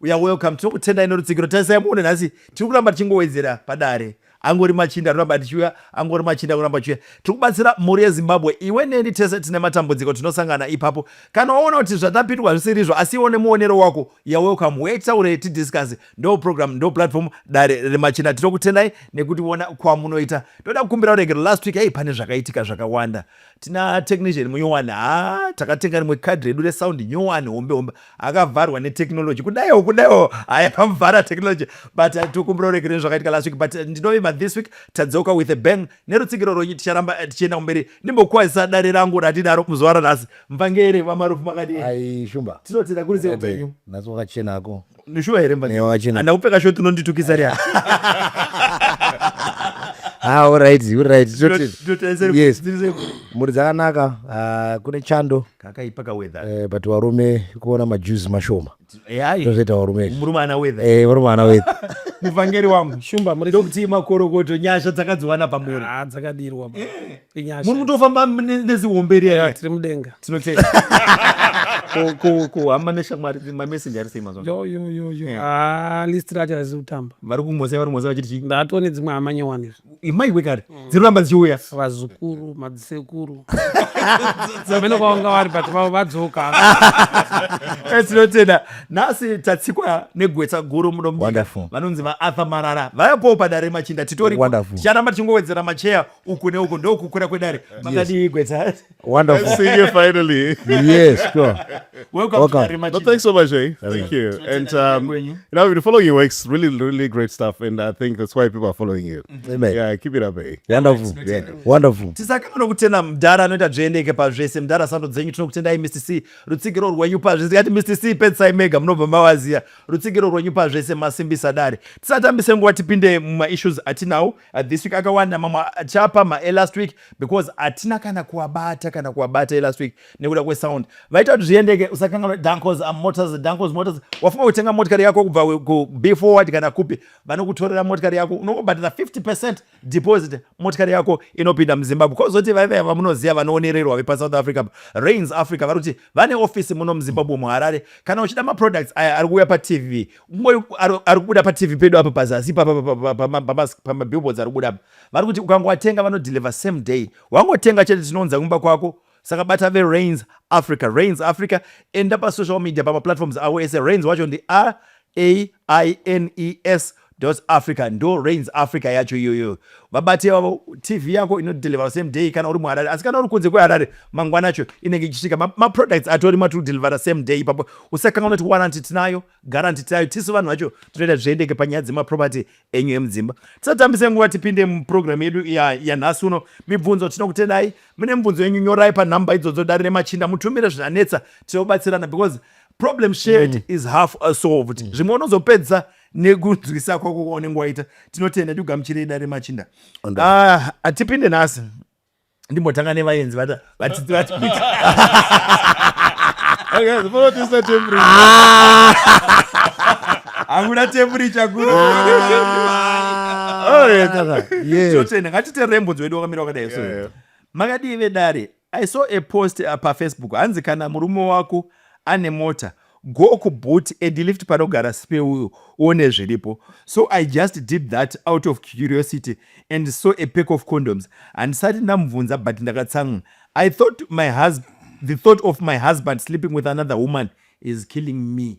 uya welcome tinokutendai nerutsigiro tarisai muone nhasi tiri kuramba tichingowedzera padare angori machinda anoramba tichiuya angori machinda anoramba chiuya tiri kubatsira mhuri yezimbabwe iwe neni tese tine matambudziko tinosangana ipapo kana waona kuti zvatapindwa zvisirizvo asi iwo nemuonero wako ya welcome huye titaure tidiscase ndo program ndo platform dare remachinda tinokutendai nekuti vona kwamunoita toda kukumbira uregero last week hei pane zvakaitika zvakawanda tina technician munyowani ha takatenga rimwe kadhi redu resound nyowani hombe hombe akavharwa netechnology kudaiwo kudaiwo haya pamuvhara technology but uh, tikumbira uregereni zvakaitika last week but uh, ndinovimba this week tadzoka with a bang nerutsigiro rwenyu ticharamba uh, tichienda kumberi ndimbokwazisa dare rangu ratidaro muzuva ranhasi mvangere vamarufu makadii shumba tinotenda kuri seupenyu nhasi wakachenako Nishuwa here mbanje? Ewa chena. Anda kupfeka short unonditukisa ria. Ah, all right, all right. Toti- Ndotarisira kuti Yes. dziri sepo. Mhuri dzakanaka, ah, kune chando, Kakaipa ka weather. eh, but varume kuona majuzi mashoma. Eh, ayi. Tozoita varume. izvi. Murume ana weather. Eh, varume ana weather. muvhangeri wangu shumba muri Ndokuti makorokoto nyasha dzakadziwana pamuri. Ah, dzakadirwa muri kutofamba nezihombe riya tiri mudenga tinotenda kuhamba neshamwari mamesenje ari sei mazuvayoyoyoyo ah, list racho harizi kutamba vari kumhosea vari kumhosea vachiti chii ndatone dzimwe hama nyowani izvi imai kwekare mm. dziri kuramba dzichiuya vazukuru madzisekuru amene kwavanga vari but vavo vadzoka eh, tinotenda nhasi tatsikwa negwetsa guru muno vanonzi vaarthur marara vayapoo padare machinda titori ticharamba tichingowedzera macheya uku neuku ndokukura kwedare makadii gwetsa Wonderful. See you finally. yes, sure. welcome Welcome. to Arima But Chimba. thanks so much, eh? Thank you. Thank you. And um, Kwenyu. you know, I've been following your works. Really, really great stuff. And I think that's why people are following you. Amen. Yeah, keep it up, eh? Wonderful. Yeah. Wonderful. tisaka munokutenda mdhara anoita dzvendeke pazvese mdhara sando dzenyu tinokutendai mr c rutsigiro rwenyu pazvese tikati mr c pedzisai mega munobva mawaziya rutsigiro rwenyu pazvese masimbisa dare tisatambise nguva tipinde mumaissues atinawo Uh, this week akawanda mamwe achapa ma elast week because atina kana kuwabata kana kuwabata elast week nekuda kwesound vaita kuti zviendeke usakanganwa dancos am motors dancos motors wafunga kutenga motikari yako kubva kub forward kana kupi vanokutorera motikari yako unongobhadhara 50 percent deposit motikari yako inopinda muzimbabwe kozoti vaive vamunoziva vanoonererwa vepasouth africa rains africa vari kuti vane ofisi muno muzimbabwe muharare kana uchida maproducts aya ari kuuya patv Mumwe ari kubuda patv pedu apa pazasi pamabillboards ari kubuda apa vari kuti ukangowatenga vanodeliver same day wangotenga chete tinounza kumba kwako saka bata verains africa rains africa enda pasocial media pamaplatforms avo ese rains wacho ndi r a i n e s africa ndo rains africa yacho iyoyo vabati ivavo tv yako inodeliver same day kana uri muharare asi kana uri kunze kweharare mangwana acho inenge ichisvika maproducts ma atori matiri kudelivera same day ipapo usakanga unoti waranti tinayo garanti tinayo tisu vanhu vacho tinoita zviendeke panyaya dzemaproperty enyu emudzimba tisatambise nguva tipinde muprogramu yedu yanhasi uno mibvunzo tinokutendai mune mibvunzo yenyu nyorai panhamba idzodzo dare remachinda mutumire zvinanetsa tinobatsirana because problem shared mm. is half solved mm. zvimwe unozopedzisa nekunzwisa kwako kwaunenge waita tinotenda tigamuchirei dare machinda ah, hatipinde nhasi ndimbotanga nevaenzi vata vatiti vati hakuda temburicha kurotenga ngatiterembunzi wedu wakamira wakadai so makadii vedare I saw a post uh, pa Facebook hanzi kana murume wako ane mota go ku boot and lift panogara sipe uyo uone zviripo so i just did that out of curiosity and saw a pack of condoms handisati ndamubvunza but ndakatsamwa i thought my husband the thought of my husband sleeping with another woman is killing me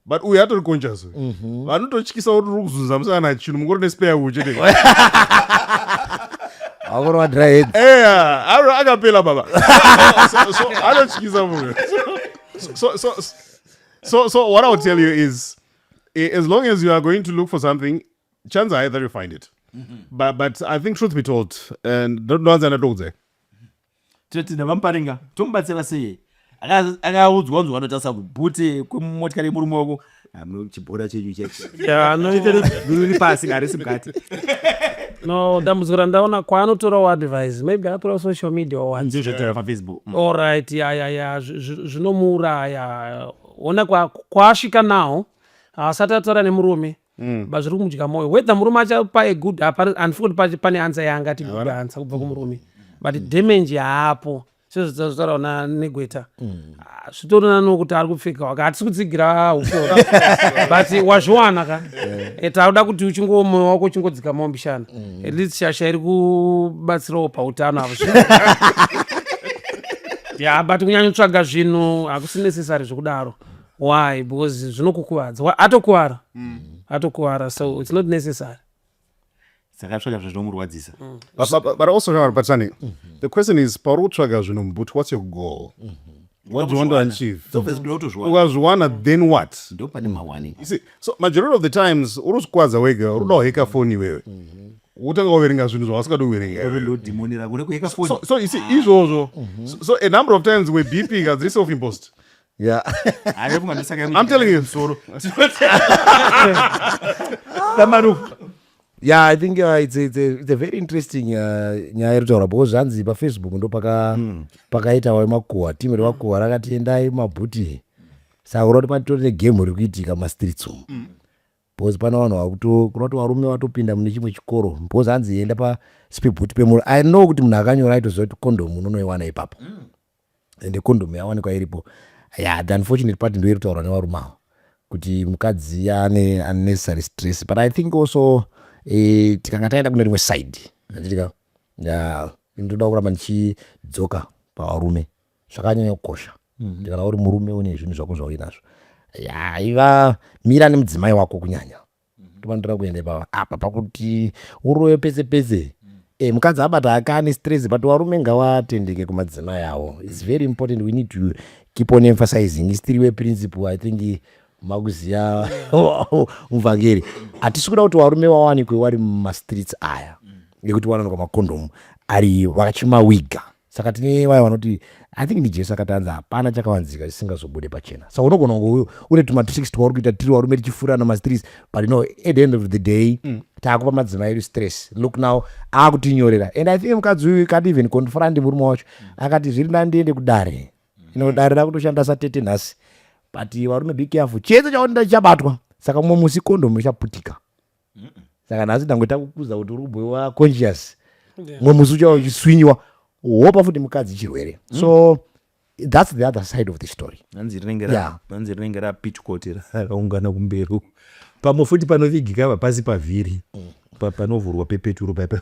but uyu atori conscious uyu mhm. vanototyisa kuti uri kuzunza musana chinhu mungori nespare uyu chete akorwa dryhead eya aro akapela baba so anotyisa munhu so so so so what i will tell you is as long as you are going to look for something chance high that you find it mm -hmm. but, but i think truth be told and ndoanza ndatokudzai toti ndavamuparinga tomubatsira sei akaudzwa unzwa anotarisa kubhute kwemotikari yemurume wako chibhora chenyu cheuri pasi harisi mukati no dambudziko randaona kwaanotorawo advise maybe atora social media owafacebook mm. allright yayaya zvinomuuraya ona kwaasvika nawo haasati ataura nemurume mm. but zviri kumudya moyo whether murume achapa a good handifi kuti pane ansa yaangati good ansa kubva kumurume but mm. damage yaapo sezvataura na negweta mm. ah, zvitorina nokuti ari kupfeka waka hatisi kutsigira ushora but wazviwana ka eh. eh, tauda kuti uchingowo moyo wako uchingodzika mombishana mm. at least shasha iri kubatsirawo pautano avo ya but kunyanyotsvaga zvinhu hakusi necessary zvekudaro why because zvinokukuvadza Wa- atokuvara atokuvara so it's not necessary saka tsvaga zvinhu zvinomurwadzisa But, but, but- but also now, but Sani, the question is, pauri kutsvaga zvinhu mubhuti, what's your goal? What do you want to achieve? Obviously, kuda kutozviwana Ukazviwana, then what? ndo pane mawani You see, so majority of the times uri kuzvikwadza wega uri kuda kuheka foni iwewe wotanga kuverenga zvinhu zvawasingadi kuverenga iwewe. ndodhimoni rako nekuheka foni so, so you see izvozvo so, so a number of times webeeping as reself impost Yeah. I'm telling you. yeah i think uh, it's, a, it's, a, it's a very interesting uh, nyaya iri kutaura because zvanzi pafacebook ndo paka mm. pakaita wayo makuhwa timu remakuhwa rakati endai mabhuti saka kuda kuti matitori negame ri kuitika mumastreets umu mm. because pana vanhu vakuto kuda kuti varume vatopinda mune chimwe chikoro because hanzi enda pasipebhuti pemuru i know kuti munhu akanyora aitoziva kuti condom unonoiwana ipapo mm. ende kondom yawanikwa iripo yeah the unfortunate part ndoiri kutaurwa nevarume avo kuti mukadzi ane unnecessary stress but i think also eh, tikanga taenda kune rimwe side handitika yeah, ndoda kuramba ndichidzoka pavarume zvakanyanya kukosha mm-hmm. kana uri murume une zvinhu zvako zvauinazvo yeah, iva mira nemudzimai wako kunyanya ndopandira mhm. kuenda ipapa apa pakuti uroyo pese pese e, mukadzi abata akani stress but varume ngawatendeke kumadzimai avo its very important we need to keep on emphasizing istiriwe principle i think makuziva muvhangeri hatisi kuda kuti varume vawanikwe wari mumastreets aya ngekuti wanonoka makondomu ari vakachimawiga saka tine vaya vanoti i think ndijesu akati anzi hapana chakavanzika chisingazobude pachena saka unogona kunge une tumatics twauri kuita tiri warume tichifuura ana mastreets but no at the end of the day mm. taakupa madzimai edu stress look now akutinyorera and i think mukadzi uyu kati even confront murume wacho mm. akati zviri ndandiende kudare mm. ino dare rakutoshanda satete nhasi but varume be careful chiedza chaonenda chichabatwa saka mumwe musi kondomu ichaputika saka nhasi ndangoita kukuza kuti uri kubhoiwa conscious mumwe musi uchava uchiswinyiwa wopa futi mukadzi chirwere mm. so that's the other side of the story hanzi rinenge rapitchkoti raungana kumberi pamwe futi panovigika va pasi pavhiri mm. panovhurwa pepeturo paipa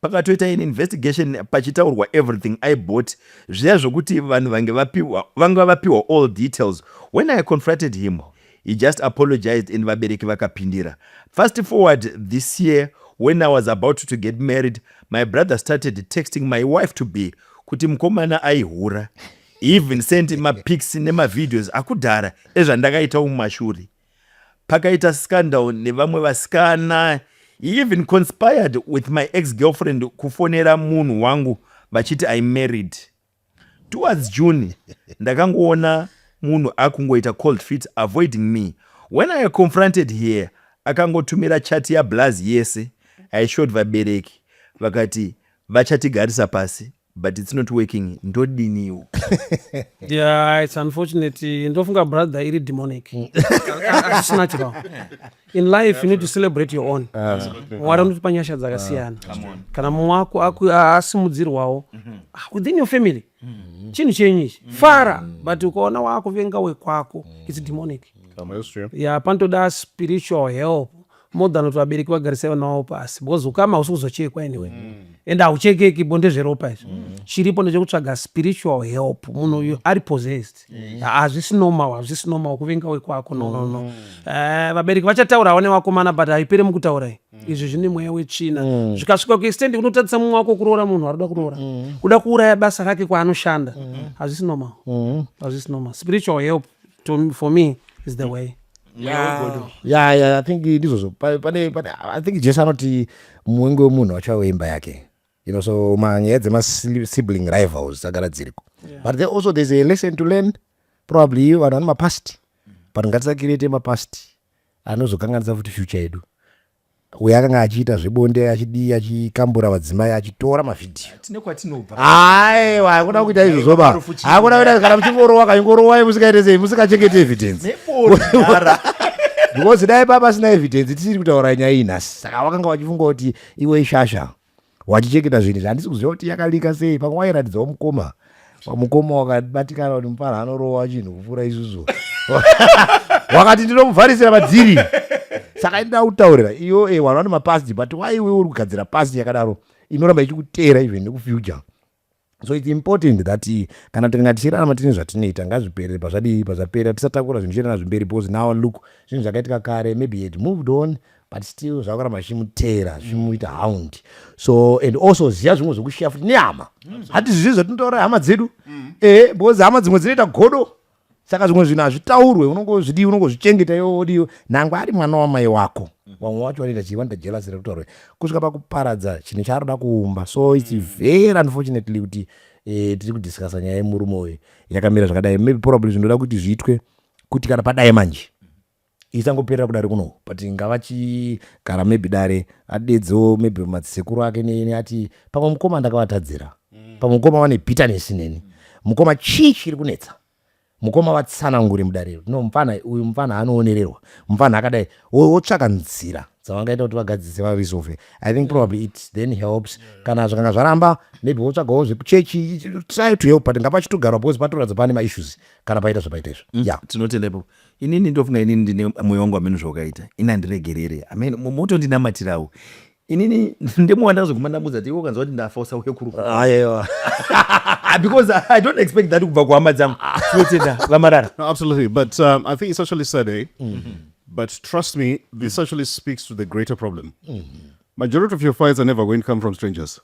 pakatoita in investigation pachitaurwa everything i bought zviya zvokuti vanhu vange vapiwa vanga vapiwa all details when i confronted him he just apologized and vabereki vakapindira fast forward this year when i was about to get married my brother started texting my wife to be kuti mukomana aihura even sent mapics nemavideos akudhara ezvandakaita umashuri pakaita scandal nevamwe vasikana he even conspired with my ex girlfriend kufonera munhu wangu vachiti i married towards june ndakangoona munhu akungoita cold feet avoiding me when i confronted here akangotumira chati yablaz yese aishowed vabereki vakati vachatigarisa pasi but it's not working ndodiniwo yeah it's unfortunate ndofunga brother iri demonic asina chirao in life you need to celebrate your own ah. mwari unotipa nyasha dzakasiyana ah, kana mumwe wako asimudzirwawo mm-hmm. ah, within your family mm-hmm. chinhu chenyu ichi mm-hmm. fara but ukaona wakuvenga wekwako it's demonic ya panotoda spiritual help more than kuti vabereki vagarise vana vavo pasi because ukama hausi kuzochekwa anyway mm. and hauchekeki bo ndezveropa izvo mm. chiripo ndechekutsvaga spiritual help munhu uyo ari possessed hazvisi normal hazvisi normal kuvenga wekwako nonono mm. eh, vabereki vachataurawo nevakomana but haipere mukutaurai mm. izvi zvine mweya wetsvina mm. zvikasvika kuextendi kunotadzisa mumwe wako kuroora munhu ari kuda kuroora kuda kuuraya basa rake kwaanoshanda hazvisi normal hazvisi normal spiritual help to, for me is the mm. way ya ya i think ndizvozvo pane pane i think jesu anoti muwengi wemunhu wacho weimba yake you know so manyaya dzemasibling rivals dzagara dziriko yeah. but there also there's a lesson to learn probably vanhu vane mapast but ngatisakirete mapast anozokanganisa futi future yedu Uyu akanga achiita zvebonde achidii achikambura vadzimai achitora mavhidhiyo. Tine kwatinobva. Aiwa, hakuda kuita izvo zvoba. Hakuda kuita kana muchingorowa kanyingorowai musikaite sei musikachengete evidence. Nebondara. Because dai papa sina evidence tisiri kutaura nyaya iyi nhasi. Saka wakanga wachifunga kuti iwe ishasha. wachicheketa zvinhu zvandisi kuziva kuti yakalika sei pamwe wairatidzawo mukoma mukoma wakabatikana kuti mupara anorowa chinhu kupfuura isusu wakati ndinomuvharisira madziri saka ini ndakutaurira iyo e wanoti mapasti but why iwe uri kugadzira pasti yakadaro inoramba ichikuteera even nekufuture so its important that eh, kana tikanga tichirarama tine zvatinoita ngazvipere pazvadii pazvapera tisatakura zvinhu zvichienderana zvemberi because now look zvinhu zvakaitika kare maybe had moved on but still zvakuramba zvichimutera zvimuita hound so and also ziva zvimwe zvekushiya futi nehama hati zvizi zvatinotaura hama dzedu mm. ehe because hama dzimwe dzinoita godo saka zvimwe zvinhu hazvitaurwe unongozvidii unongozvichengeta iwe wodii nangwe ari mwana wamai wako mm. vamwe wacho vanoita chii vanoita jelasi rekutaurwa kusvika pakuparadza chinhu chaanoda kuumba so its mm. very unfortunately kuti eh, tiri kudiscasa nyaya yemurume uyu yakamira zvakadai maybe probably zvinoda kuti zviitwe kuti kana padai manje isangoperera kudare kuno but ngavachigara maybe dare adedzewo maybe madzisekuru ake neni ati pamwe mukoma ndakavatadzira mm. pamwe mukoma vane bitterness neni mukoma chii chiri kunetsa mukoma vatsanangure mudare iro no mupfana uyu mupfana anoonererwa mupfana akadai wotsvaka nzira dzavangaita kuti vagadzise varesolve i think probably it then helps kana zvikanga zvaramba maybe wotsvagawo zvekuchechi try to help but ngapachitogarwa because patoratidza pane maissues kana paita zvapaita izvo mm. ya tinotenda ipapo Inini ndofunga inini ndine moyo wangu ameno zvawakaita ini handiregerere amen motondinamatirawo inini ndemo wandakazoguma ndamudza kuti iwe ukanzwa kuti ndafa usauye kuruayewa ah, because i don't expect that kubva kuhama dzangu tinotenda vamarara no, absolutely but um, i think it's actually sad eh? mm -hmm. but trust me this actually speaks to the greater problem mm -hmm. majority of your fights are never going to come from strangers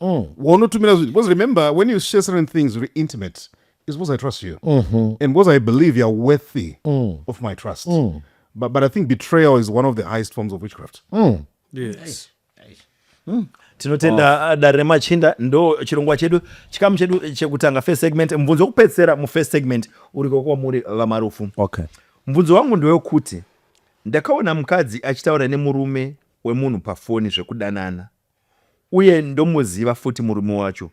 mm. waunotumira zvinhu because remember when you share certain things very intimate is because i trust you mm -hmm. and because i believe youare worthy mm. of my trust mm. but, but i think betrayal is one of the highest forms of witchcraft mm. yes. Mm tinotenda oh. Uh, dare remachinda ndo chirongwa chedu chikamu chedu chekutanga first segment mubvunzo wekupedzisira mufirst segment uriko kwamuri vamarufu okay. mubvunzo wangu ndewekuti ndakaona mukadzi achitaura nemurume wemunhu pafoni zvekudanana Uye ndomuziva futi murume wacho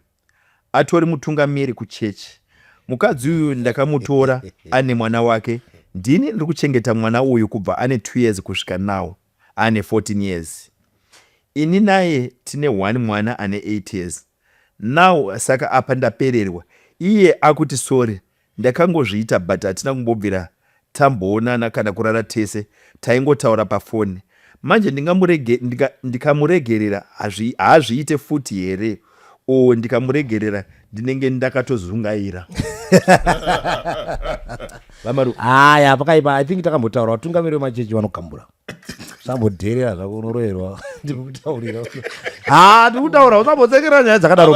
atori mutungamiri kuchechi. Mukadzi uyu ndakamutora ane mwana wake. Ndini ndiri kuchengeta mwana uyu kubva ane 2 years kusvika now ane 14 years. Ini naye tine one mwana ane 8 years now saka apa ndapererwa. Iye akuti sorry Ndakangozviita but hatina kumbobvira tamboonana kana kurara tese taingotaura pafoni. Manje ndingamurege ndika, ndikamuregerera hazvi, haazviite futi here or ndikamuregerera ndinenge ndakatozungaira. Vamaru. Haya pakaipa I think takambotaura vatungamiri vemachechi vanogambura. sambodherera zvako unoroerwa ndikutaurira ha ah, ndikutaura usambotsekera nyaya dzakadaro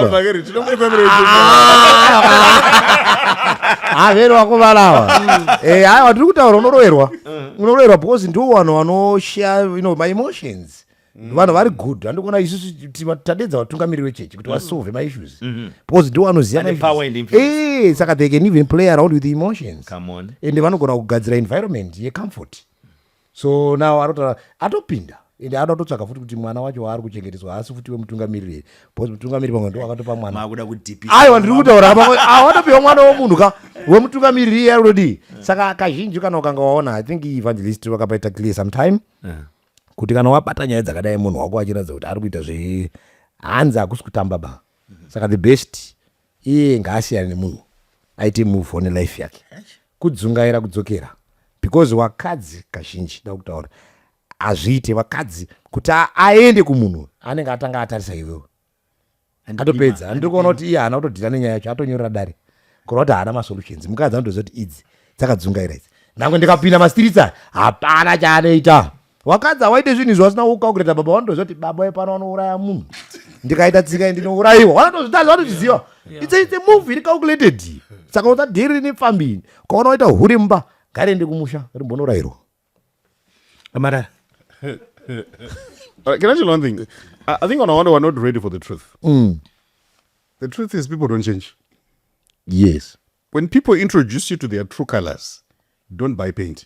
havero ah, ah, vakuvalawa eh, aiwa ndiri kutaura unoroerwa uh-huh. unoroerwa because ndiwo vanhu vanoshaya you know my emotions mm. vanhu vari good andikuona isusu tadedza vatungamiriri vechechi kuti vasolve mm. maissues mm-hmm. because ndiwo anoziva eh, saka they can even play around with emotions ende vanogona kugadzira environment yecomfort so now anotaura atopinda ende anoda kutotsvaga futi kuti mwana wacho waari kuchengeteswa haasi futi wemutungamiriri here bcause mutungamiriri pamwe ndo akatopa mwana aiwa ndiri kutaura awatopiwa mwana womunhu ka wemutungamiriri iye ari kutodii saka kazhinji kana ukanga waona i think evangelist vakapaita clear sometime eh. kuti kana wabata nyaya dzakadai munhu wako achiratidza kuti ari kuita zve hanzi hakusi kutamba ba saka the best iye ngaasiyane nemunhu aite move one life yake kudzungaira kudzokera because wakadzi kazhinji da kutaura hazviite vakadzi kuti aende kumunhu anenge atanga atarisa iwewe atopedza andiri kuona kuti iye haana kutodhira nenyaya yacho atonyorera dare kureva kuti haana masolutions mukadzi anotoziva kuti idzi dzakadzungaira idzi nange ndikapinda mastritsa hapana chaanoita wakadzi hawaite zvinhu izvo vasina kukaukireta baba vanotoziva kuti baba vepano vanouraya munhu ndikaita tsika iyi ndinourayiwa vanatozvitazi vanotozviziva its its move iri calculated saka usadhiri rini pfambi ini ukaona waita huri mumba ngariende kumusha rimbonourayirwa amarara Uh, can I tell you one thing? I, I think on one we're not ready for the truth. Mm. The truth is people don't change. Yes. When people introduce you to their true colors, don't buy paint.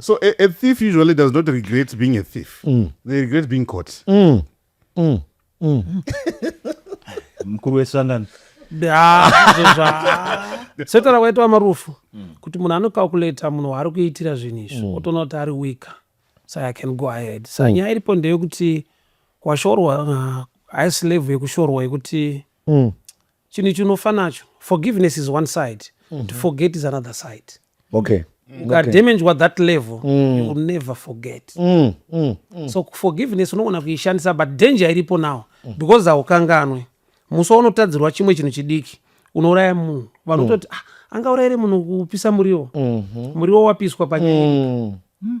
So a, a thief usually does not regret being a thief. Mm. They regret being caught. Mm. Mm. Mm. mkuru wesangano setaura kwaitwa marufu mm. kuti munhu anocalculata munhu waari kuitira zvinhu izvi mm. otoona kuti ari weaker so i can go ahead sa mm. nyaya iripo ndeyekuti kwashorwa uh, haislave yekushorwa yekuti chinhu chinofa nacho forgiveness is one side mm -hmm. to forget is another side okay ukadamagwa okay. that level mm. you will never forget mm. Mm. Mm. so forgiveness unogona kuishandisa but danger iripo now mm. because haukanganwe musi waunotadzirwa chimwe chinhu chidiki unouraya munhu vanhu kutoti mm. ah, angaurayire munhu kupisa muriwo mm -hmm. muriwo wapiswa panyaya mm. mm.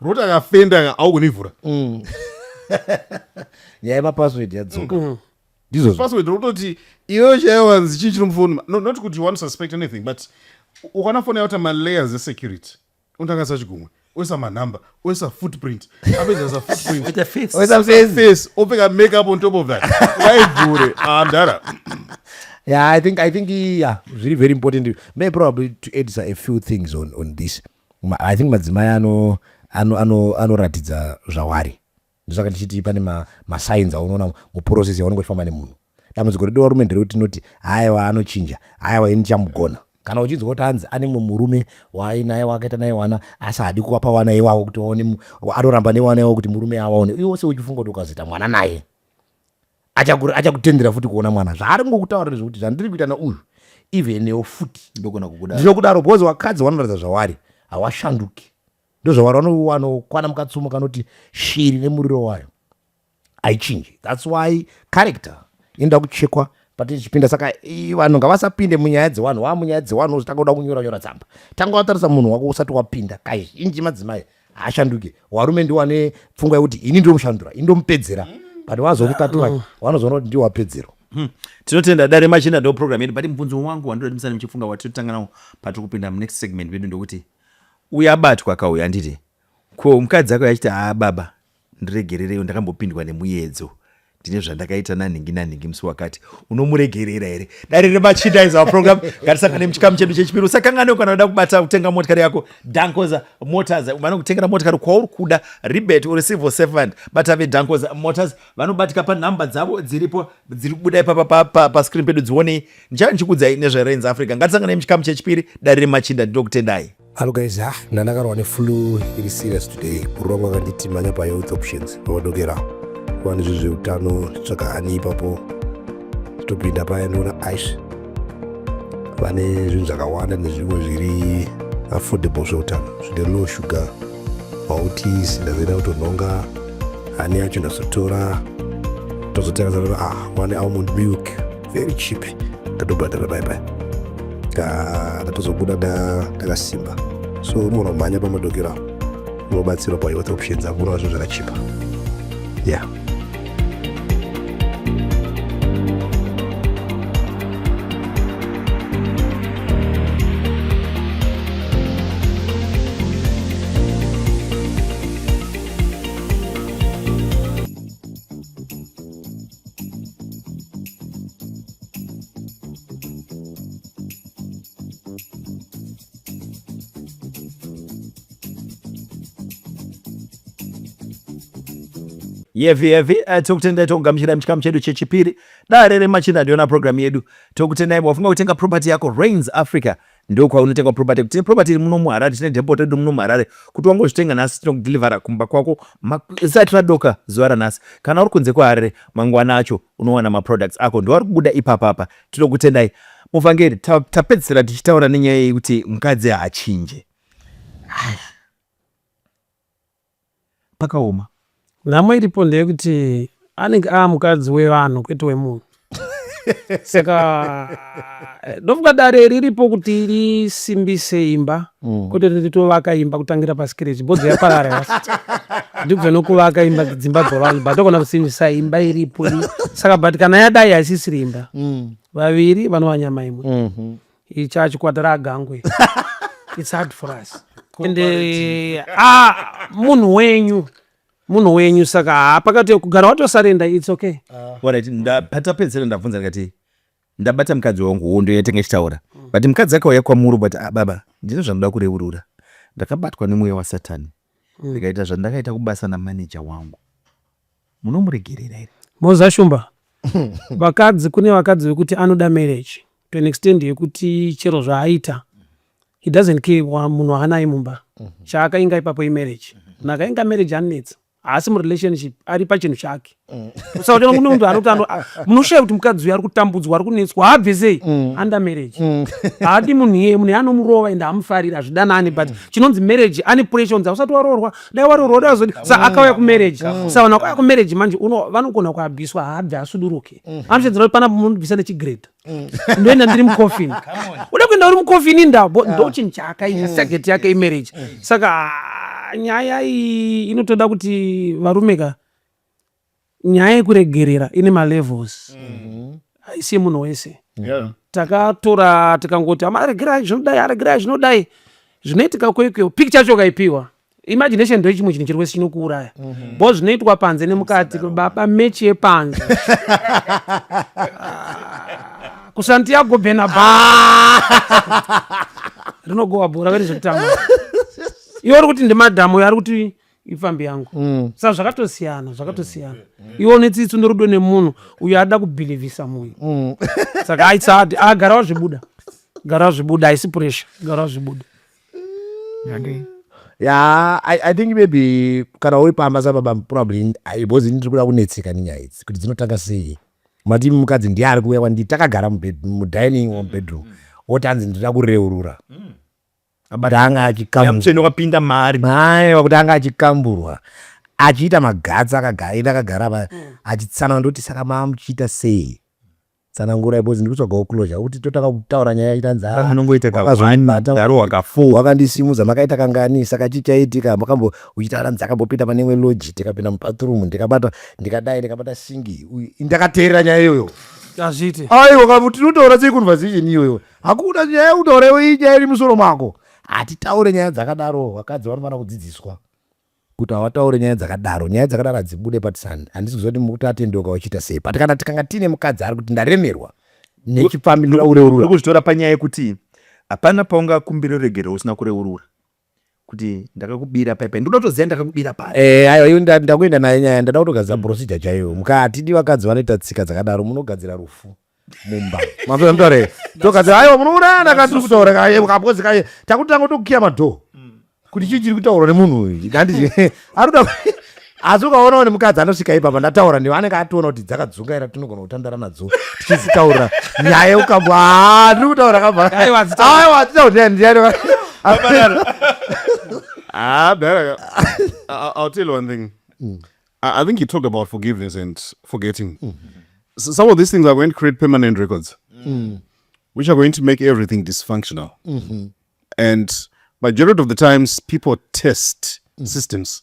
roti akafenda aukunivhura mm. nyaya yemapassword yadzoka mm. ndizvo password rototi iweyo chaiyo wanzi chii chiri mufoni no, not kuti you want to suspect anything but ukwana foni yauta malayers esecurity unotangasa chigumwe oisa manumber oisa footprint apedza footprintface opfeka make up on top of that aivhure andara ah, yeah i think i think yeah zviri very important may probably to add a few things on, on this I think madzimai ano anoratidza ano, ano zvawari ndosaka ndichiti pane masigns ma aunoona muprocess yaunenge uchifamba nemunhu dambudziko redu varume nderekuti tinoti hayewa anochinja hayewa ini chamugona kana uchinzwa kuti hanzi ane mumwe murume waainaye wakaita naye wana asi hadi kuwapa wana iwawo kuti waone anoramba newana iwawo kuti murume awaone iwe wose uchifunga kuti ukazoita mwana naye achakutendera futi kuona mwana zvaari ngokutaurira zvekuti zvandiri kuita neuyu ivenewo futi ndinokudaro because wakadzi wanoratidza zvawari hawashanduki ndozvawari wanokwana mukatsumo kanoti shiri nemuriro wayo haichinji thats why character inoda kuchekwa patichipinda saka vanhu ngavasapinde munyaya dzevanhu vaa munyaya dzevanhu ozotanga kuda kunyora nyora tsamba tanga watarisa munhu wako usati wapinda kazhinji madzimai haashanduke warume ndiwo ane pfungwa yekuti ini ndomushandura ini ndomupedzera but wazokukatura wanozoona kuti ndiwo wapedzerwa Hmm. tinotenda dare machina ndo program yedu but mubvunzo wangu wandinoda timusane muchifunga watinotanga nawo patiri kupinda munext segment vedu ndokuti uyabatwa kauya anditi ko mukadzi ako yachiti haa baba Ndiregerereiwo ndakambopindwa nemuyedzo ndine zvandakaita nanhingi nanhingi musi wakati unomuregerera here dare remachinda is our program ngatisangane muchikamu chedu chechipiri usakanganewo kana uda kubata kutenga motikari yako dankoza motors vanokutengera motikari kwauri kuda ribet or civil servant bata vedankoza motors vanobatika panhamba dzavo dziripo dziri kubuda ipapa pascreen pedu dzionei ndichava ndichikudzai nezverenz africa ngatisanganei muchikamu chechipiri dare remachinda ndinokutendai Hello guys, ah, ndandakarwa neflu iri serious today. Bhuru vangu vakanditi manya pahealth options vamadokera kuva nezvi zveutano tsvaka hani ipapo topinda paya ndoona aish vane zvinhu zvakawanda nezvimwe zviri affordable zveutano zvine low sugar mauti sindazoenda kutonhonga hani yacho ndazotora tozotenga zaa ah, wane almond milk very cheap ndatobhadhara pai pai ndatozobuda ndakasimba so unogona kumhanya pamadokero apo unobatsirwa pahealth options apo unoona zvinhu zvakachipa ya yeah. yevi yevi uh, eh, tokutendai tokugamuchirai muchikamu chedu chechipiri dare remachinda ndiona programu yedu tokutendai wafunga kutenga property yako rains africa ndokwaunotenga property tine property iri muno muharare tine depot redu muno muharare kuti wangozvitenga nhasi tinokudelivhera kumba kwako isati radoka zuva ranhasi kana uri kunze kweharare mangwana acho unowana maproducts ako ndoari kubuda ipapapa tinokutendai muvhangeri tapedzisira tichitaura nenyaya yekuti mukadzi haachinje pakaoma. Nhamo iripo ndeyekuti anenge aamukadzi wevanhu kwete wemunhu saka ndofunga dare riripo kuti risimbise imba mm. kwete kuti titovaka imba kutangira pasikireti bhodzi yaparara ndibva nokuvaka imba dzimba dzavanhu but togona kusimbisa imba iripo saka but kana yadai haisisiri imba mm. vaviri vanova nyama imwe mm-hmm. icha chikwatara agangwe its hard for us ende ah, munhu wenyu munhu wenyu saka hapakati kugara watosarenda its okay ah. patapedzera ndabvunza ndikati ndabata mukadzi wangu hondo yatenge chitaura but mukadzi akauya kwamuri but ah, baba ndine zvandoda kureurura ndakabatwa nemweya wasatani mm. ndikaita mm. zvandakaita kubasa namaneja wangu munomuregerera here moza shumba vakadzi kune vakadzi vekuti anoda marriage to an extend yekuti chero zvaaita he doesn't care munhu waanaye mumba mhm. chaakainga ipapo imarriage munhu akainga marriage anetsa haasi murelationship ari pachinhu chake mm. usaona kune munhu anoti munoshaya kuti mukadzi uyo ari kutambudzwa ari kunetswa haabve sei mm. under marriage mm. haadi munhu iyeye munhu anomurova ende hamufariri hazvidanani but chinonzi marriage ane pressure unzi hausati waroorwa dai waroorwa uda azoti sa akauya kumarriage sa vanhu vakauya kumarriage manje vanogona kuabviswa haabve asuduruke anoshedzera kuti panapo munobvisa nechigrade ndoenda ndiri mucoffin uda kuenda uri mucoffin indabo ndochinhu chaakaita target yake imarriage saka nyaya iyi inotoda kuti varume ka nyaya yekuregerera ine malevels mm-hmm. haisi yemunhu wese takatora tikangoti amaregerai zvinodai aregerai zvinodai zvinoitika kwekweo pik chacho ukaipiwa imagination ndo chimwe chinhu chiri wese chinokuuraya mhm. bho zvinoitwa panze nemukati baba mechi yepanze ah, kusantiago benaba rinogowa bhora veri zvekutanga iwe uri kuti ndimadhamu uyo ari kuti ipfambi yangu mm. sa zvakatosiyana zvakatosiyana mm. mm. iwe une tsitsi norudo nemunhu uyo ada kubhilivhisa munhu mm. saka aitsati a ah, gara wazvibuda gara wazvibuda haisi puresha gara wazvibuda okay. ya I, i think maybe kana uri pamba sababa probably because ini tiri kuda kunetseka nenyaya idzi kuti dzinotanga sei mati mukadzi ndiye ari kuuya kwandii takagara mudining womubedroom mm. wotanzi ndinoda kureurura mm. abata anga achikambutsvene wakapinda mari mai wakuti anga achikamburwa achiita magatsi akagaira akagara pa mm. achitsanana ndoti saka maamuchiita sei tsanangura because ndiri kutsvaga uclosure kuti totanga kutaura nyaya itanzaaanongoitawakandisimuza makaita kangani saka chii chaitika makambo uchitaura nzi akambopinda pane imwe loji ndikapinda mubathroom ndikabata ndikadai ndikabata singi ndakateerera nyaya iyoyo azviite aiwa tinotaura sei conversation iyoyo Hakuna nyaya yekutaurewo iyi nyaya iri musoro mako. Hatitaure nyaya dzakadaro, vakadzi vanofanira kudzidziswa kuti hawataure nyaya dzakadaro nyaya dzakadaro hadzibude patisani handisi kuziva kuti mukuti atendeuka wachiita sei but kana tikanga tiine mukadzi ari kuti ndaremerwa nechipfambi ndaureurura kuzvitora panyaya yekuti hapana paungakumbira ruregerero usina kureurura kuti ndakakubira pai pai ndoda kutoziva ndakakubira pai eh, ayo iyo ndakuenda nayo nyaya ndada kutogadzira mm. procedure chaiyo mukatidi vakadzi vanoita tsika dzakadaro munogadzira rufu mumba mazoamtore togadzira ayo munoona ndakatiri kutaura kaye kapozi kaye takutanga tokiya madhoo mm. kuti chii chiri kutaurwa nemunhu uyu ari kuda asi ukaona une mukadzi anosvika ipapa ndataura ndiwo anenge ationa kuti dzakadzungaira tinogona kutandara nadzo tichizitaura nyaya ukambwa ah, ndiri kutaura kavaaiwazitauraiwazitauraiwazitaura Ah, better. I, I'll tell you one thing. Mm. I, I think you talked about forgiveness and forgetting. Mm. So some of these things are going to create permanent records, mm. which are going to make everything dysfunctional. Mm-hmm. And majority of the times, people test mm. systems.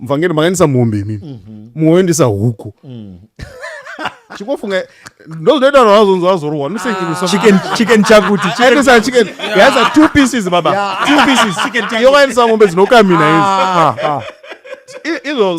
mvangeri makaendesa mombe imimi mm -hmm. muoendesa huku mm. chikofunga ndozvinoita vazonzi vazorohwa nosechicken chakuti aendesa chicken yaisa two pieces baba two pieces yovaendesa mombe dzinokamina izi ah. ah, ah. izvo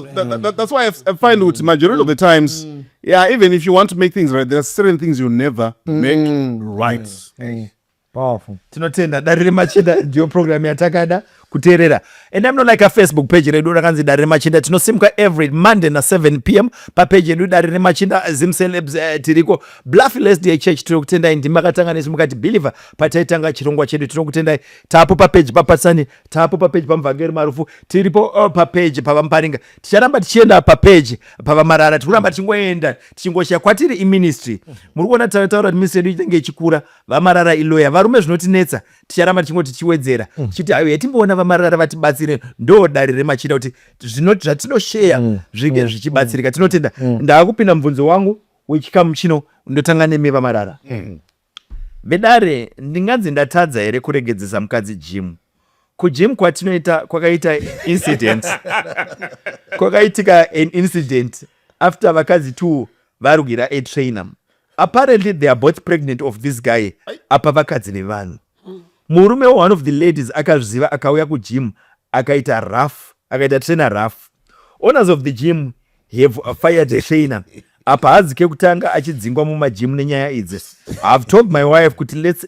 that's why i find kuti majority of the times mm. yeah even if you want to make things right there are certain things you never mm. make right mm. Powerful. Tinotenda dare remachinda ndiyo program yatakada kuteerera and I'm not like a Facebook page redu rakanzi dare remachinda tinosimuka every Monday na 7 pm papeji yedu dare remachinda Zim Celebs eh, tiriko Bluff Lesdale Church tinokutendai ndimi makatanga nesu mukati believer pataitanga chirongwa chedu tinokutendai tapo papeji papatsani tapo papeji pamuvhangeri marufu tiripo uh, papeji pavamuparinga ticharamba tichienda papeji pavamarara tiri kuramba tichingoenda tichingoshaya kwatiri iministry muri kuona tataura kuti ministry yedu inenge ichikura vamarara iloya varume zvinotinetsa ticharamba tichingoti tichiwedzera mm. tichiti hayo yatimboona vamarara vatibatsire ndo dare remachira kuti zvatinosheya mm. zvinge mm. zvichibatsirika tinotenda ndaakupinda mubvunzo wangu wechikamu chino ndotanga nemi vamarara vedare ndinganzi ndatadza here kuregedzesa mukadzi jimu kugym kwatinoita kwakaita incident kwakaitika an incident after vakadzi two varwira a trainer apparently they are both pregnant of this guy apa vakadzi nevanhu murume wa one of the ladies akazviziva akauya kugym akaita rough akaita trainer rough owners of the gym have fired the trainer apa hadzi kekutanga achidzingwa mumagym nenyaya idzi ihave told my wife kuti let's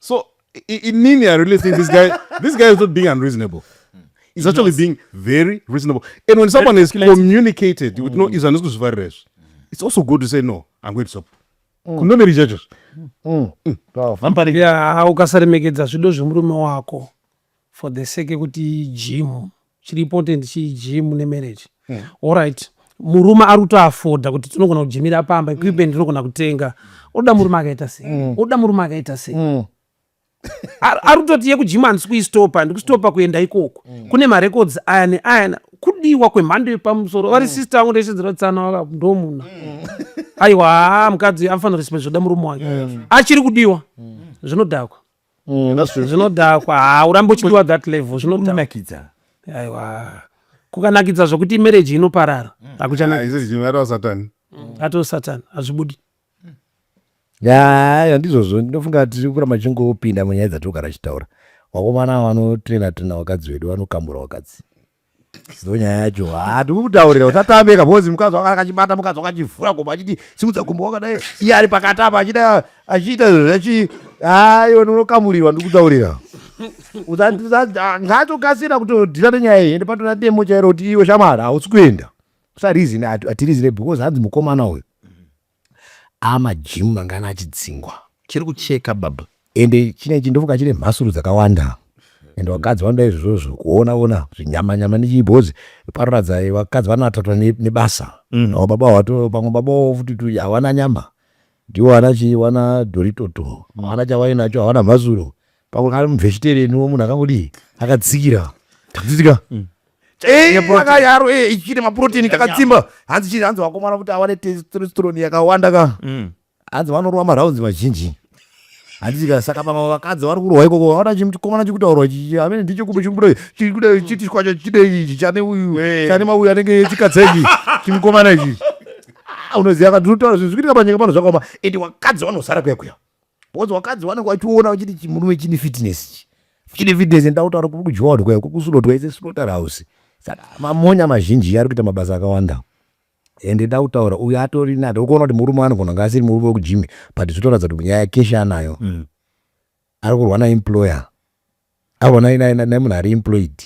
so inini i really think this guy this guy is not being unreasonable is actually yes. being very reasonable and when someone has communicated you would know mm. izvi handisi kuzvifarira izvi it's also good to say no i'm going to stop mm. kunomeri chacho mm. ukasaremegedza zvido zvemurume wako for the sake yekuti gym chiri important chi gym ne marriage mm. alright murume ari kuto afoda kuti tinogona kujimira pamba mm. equipment tinogona kutenga oda murume akaita sei mm. oda murume akaita sei mm. ari kutoti yekujima handisi kuistopa ndikustopa kuenda ikoko mm. kune marecords aya neaya kudiwa kwemhando yepamusoro vari mm. sister angu ndaichedzera tsana waka ndomuna mm. aiwa haa mukadzi anofanira respect zvoda murume wake achiri kudiwa zvinodhakwa Mm, zvinodhakwa haa urambe uchidiwa that level zvinonakidza aiwa kukanakidza zvokuti imereji inoparara akuchanaaatani ah, atoo satani hazvibudi ya ndizvozvo ndinofunga tiri kuramba tichingopinda munyaya dzatiri kugara chitaura wakomana vanotrena trena vakadzi vedu vanokambura vakadzi ndonyaya yacho handi kukutaurira usatambeka bhozi mukadzi wanga akachibata mukadzi wakachivhura gomba achiti simudza gomba wakadai iye ari pakati apa achida achiita zvachi aiwa ndinokamurirwa ndikutaurira ngaatokasira kutodhira nenyaya iyi ende patona demo chairo kuti iwe shamwari hausi kuenda usarizine atirizire because hanzi mukomana uyu Haa maGym mangani achidzingwa. Chiri kucheka baba. Ende chine chindofunga chine mhasuru dzakawanda and vakadzi vanoda izvozvo kuona ona zvinyama nyama nechii because paroratidza vakadzi vanoatatwa nebasa mm. no baba wato pamwe baba wavo futi tu havana nyama ndiwo ana chii wana doritoto havana chavainacho havana mhasuro Pakuti ari mubvechitereni wo munhu akangodii akatsikira takutsikira mm. Eh, akayaro eh, ichine maproteni kakatsimba hanzi chii hanzi vakomana kuti awane testosterone yakawanda ka mm. hanzi vanorova maraunzi mazhinji handiika saka vamwe vakadzi vari kurwa ikoko vaona chikomana chikutaurwa amene ndicho kumbe chikuda chikuda chiti kwacho chidei ichi chane uyu eh. chane mauyu anenge chikadzengi chimukomana ichi ah, unoziva kati unotaura zvinhu zvikuitika panyika pano zvakaoma ende vakadzi vanosara kuya kuya Because wakadzi wanenge wachiona wachiti chimurume chine fitness ichi. Chine fitness and tautaura kuri kujoodwa kuri kusulotwa ise slaughter house. Saka mamonya mazhinji ari kuita mabasa akawanda. Ende tautaura uyu atori nani ukuona kuti murume anogona nga asiri murume wekujimi but zvitoratidza kuti nyaya kesha anayo. Mm. Ari kurwa na employer. Avo nai nai nai munhu ari employed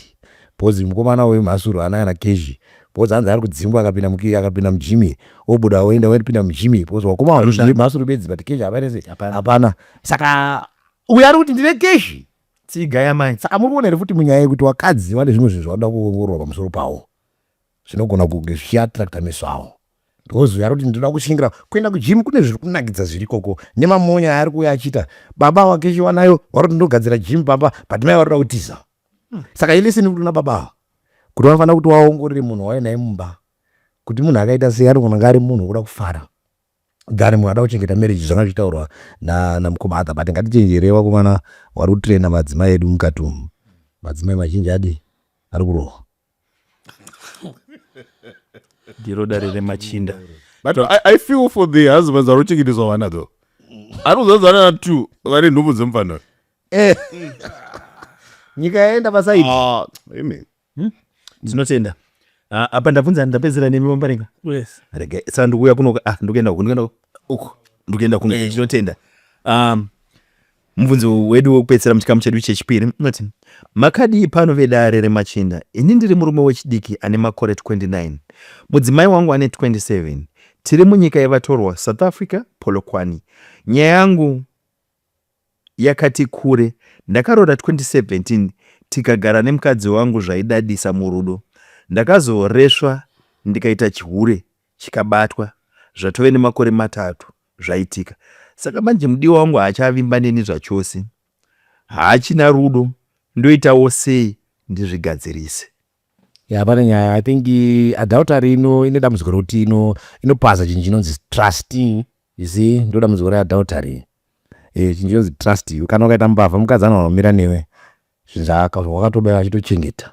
because mukomana uyu mhasuru haana kana cash because hanzi ari kudzingwa akapinda muki akapinda mugym iri obuda oenda oendipinda mugym iri because wakoma wazviri mhasuru bedzi but cash hapana sei hapana saka uyu ari kuti ndine cash tsiga yamai saka muri kuona here futi munyaya yekuti wakadzi vane zvimwe zvinhu zvavanoda kuongororwa pamusoro pawo zvinogona kunge zvichiattracta meso awo ndozouya roti ndinoda kushingira kuenda kujimu kune zviri kunakidza zviri koko nemamonya aari kuuya achiita baba wake chiwanayo waroti ndogadzira jimu pamba but mai varoda kutiza hmm. saka ileseni kuti una baba ava kuti vanofanira kuti waongorere munhu wauya naye mumba kuti munhu akaita sei anogona nga ari munhu wokuda kufara than munhu ada kuchengeta marriage zvanga zvichitaurwa namukoma adha but ngatichenjerei vakomana wari kutraina madzimai edu mukati umu madzimai mazhinji adi ari kurohwa ndiro dare remachinda but I, i feel for the husbands vari kuchengeteswa vana though ari kuzadzana na two vari nhumbu dzemufana eh. nyika yaenda pasaidi ah, amen hmm? tinotenda ah, apa ndabvunza ndapedzera nemi vambarenga yes rega saka ndikuuya kuno ah ndikuenda uku ndikuenda uku uku ndikuenda kuno eh. tinotenda um Mubvunzo wedu wekupedzisira muchikamu chedu chechipiri unoti, Makadii pano vedare remachinda? Ini ndiri murume wechidiki ane makore 29. Mudzimai wangu ane 27. Tiri munyika yevatorwa, South Africa, Polokwane. Nyaya yangu yakati kure. Ndakaroora 2017 tikagara nemukadzi wangu zvaidadisa murudo. Ndakazoresva ndikaita chihure chikabatwa zvatove nemakore matatu zvaitika saka manje mudiwa wangu haachavimba neni zvachose haachina rudo ndoitawo sei ndizvigadzirise ya pane nyaya i think adultery ino ine dambudziko rokuti ino inopaza chinhu chinonzi trust you see ndo dambudziko readultery e, chinhu chinonzi trust you kana ukaita mbavha mukadzi anoanomira newe zvinhu zvawakatoba vachitochengeta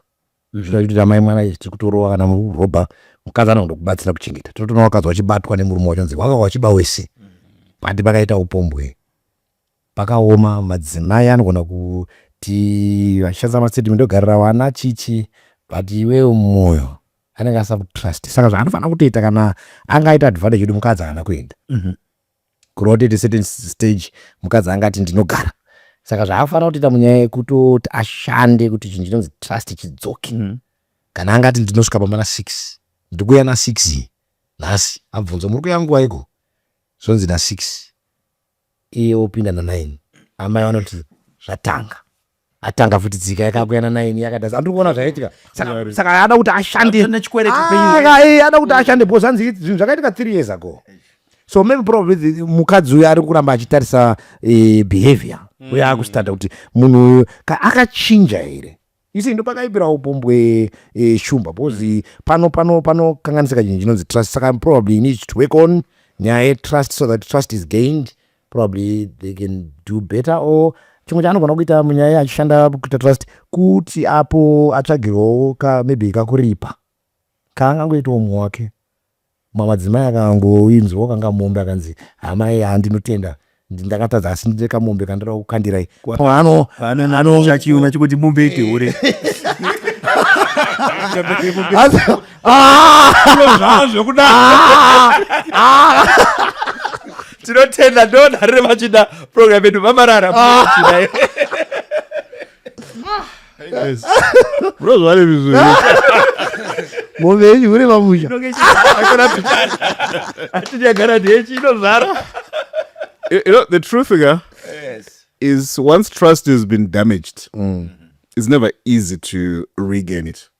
zvinoda kuti amai mwana izvi tiri kutorova kana murobha mukadzi anoda kubatsira kuchengeta tinotoona wakadzi wachibatwa nemurume wacho nzi waka wachiba wese pati pakaita upombwe pakaoma madzimai anogona kuti vachishandisa mastatement ogarira vana chichi but iwewo mwoyo anenge asina kutrust saka zvaanofanira kutoita kana angaita advantage kuti mukadzi haana kuenda kureva kuti at a certain stage mukadzi anga ati ndinogara saka zvaafanira kutoita munyaya yekutoti ashande kuti chinhu chinonzi trust chidzoke mm. kana anga ati ndinosvika pamana six ndikuya nasix nhasi abvunzwa muri kuya nguva iko zvonzi nasix iye opinda nanine amai vanoti zvatanga atanga futi dzika yakakuyana naini yakadasa andiri kuona zvaitika saka ada kuti ashandeada ah, kuti ashande because anzi zvinhu zvakaitika three years ago so maybe probably mukadzi uyo ari kuramba achitarisa eh, behavior mm. uyo akustanda kuti munhu uyo akachinja here isi ndo pakaipira upombwe eh, shumba because mm. pano pano panokanganisika chinhu chinonzi trust saka probably need to work on nyaya yetrust so that trust is gained probably they can do better or chimwe chaanogona kuita munyaya achishanda kuita trust kuti apo atsvagirwawo ka maybe kakuripa kaangangoitawo mumwe wake mamadzimai akangoinzwawo kanga mombe akanzi hamai handinotenda ndakatadza asi ndine kamombe kandira kukandirai anochiume chekuti mombe itihure Ah! Zviro zvavo zvekuda tinotenda ndodaro revachida program yedu vamarara Chidai. bro zvavari vizuri mombe yenyu hure mamusha Inonge ichizara, hakuna pichana. Hatinyagara ndechi inozara you you know the truth ga is once trust has been damaged it's never easy to regain it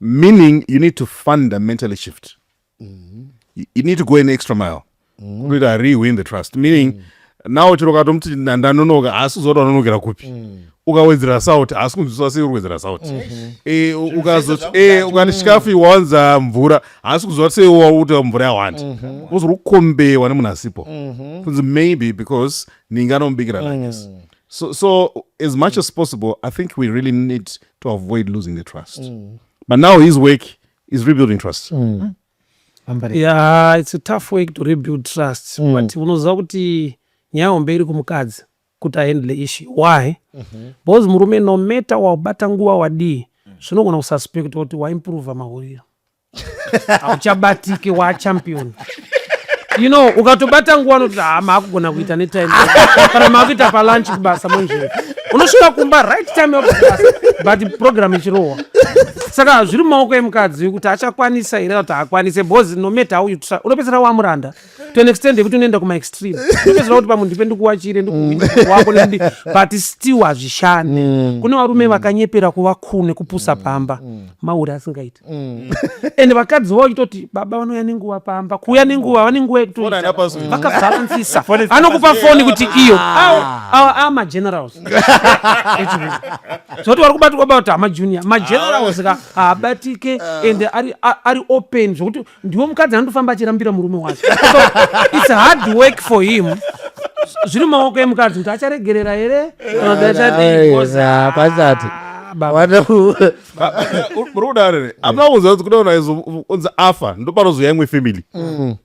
meaning you need to fundamentally shift mm. you need to go an extra mile mm. kuti rewin the trust meaning mm. now chero katomuti ndanonoka haasi kuzoda unonokera kupi mm. ukawedzera sauti haasi kunzwiswa sei uri kuwedzera sauti mm-hmm. e, ukazoti e, ukati chikafu iwanza mvura haasi kuziva sei wauti mvura yawandi mm-hmm. uzori kukombewa nemunhu asipo mm-hmm. kunzi maybe because ninga anomubikira mm. so, so as much as possible i think we really need to avoid losing the trust mm. but now his work is rebuilding trust mm. Mm. Yeah, it's a tough work to rebuild trust mm. but unoziva kuti nyaya hombe iri kumukadzi kuti ahandle issue why mm -hmm. because murume no matter wabata nguva wadii zvinogona mm. kususpect kuti waimprova mahuriro hauchabatiki wachampion you know ukatobata nguva anoti ha ah, maakugona kuita netime kana maakuita palunch kubasa monje unosvika kumba right time yakubasa but program ichirohwa saka zviri mumaoko emukadzi kuti achakwanisa here kuti haakwanise bcause nometa auyu unopedzera wamuranda to an extent yekuti unoenda kuma extreme ndopedzera kuti pamwe ndipe ndikuwachire ndikuwako mm. but still hazvishande mm. kune varume mm. vakanyepera kuva cool nekupusa pamba mauri asingaiti and vakadzi vavo vachitoti baba vanouya nenguva pamba kuuya nenguva vane nguva yekutokavharansisa anokupa foni kuti iyo awa a magenerals zvoti vari kubatikwa bauti amajunior magenerals ka haabatike ah. and ari open zvokuti ndiwo mukadzi anotofamba achirambira murume wake its hard work for him zviri maoko emukadzi kuti acharegerera here pasati muri kudare ne apana kunzwa kuti kuda unaizonzi afa ndopanozouya imwe family mm.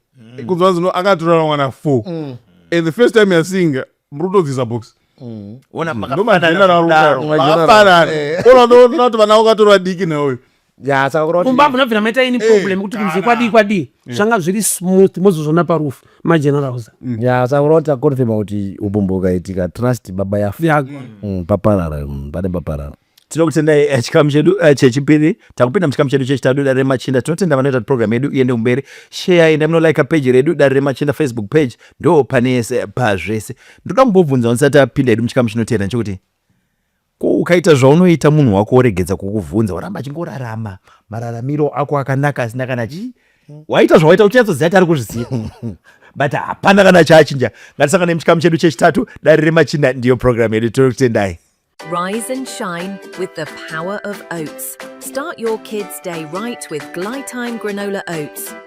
kunzwa anzi no akatorara mwana four mm. and the first time yaseeing muri kutodzisa box mm. onatoona kuti vana vakatorwa diki neuyu mumba munobvira maita ini problem kuti kunzi kwadii kwadii zvanga zviri smooth mozozvona parufu magenerals mm. ya saka unoti akonfirma kuti ubumbu ukaitika trust baba yafa mm, paparara mm, pane paparara tinokutendai eh, chikamu chedu eh, chechipiri takupinda muchikamu chedu chechitatu dare remachinda tinotenda vanoita kuti program yedu iende kumberi sheyai ndamunolika peji redu dare remachinda facebook page ndo pane yese pazvese ndoda kumbobvunza ndisati apinda yedu muchikamu chinoteera nechekuti Ko ukaita zvaunoita munhu wako oregedza kukuvhunza oramba achingorarama mararamiro ako akanaka asina kana chii hmm. waita zvawaita uchinyatsoziva kuti ari kuzviziva but hapana kana chaachinja ngatisangane muchikamu chedu chechitatu dare remachinda ndiyo programu yedu tiri kutendai Rise and shine with the power of oats. Start your kids' day right with Glytime granola oats.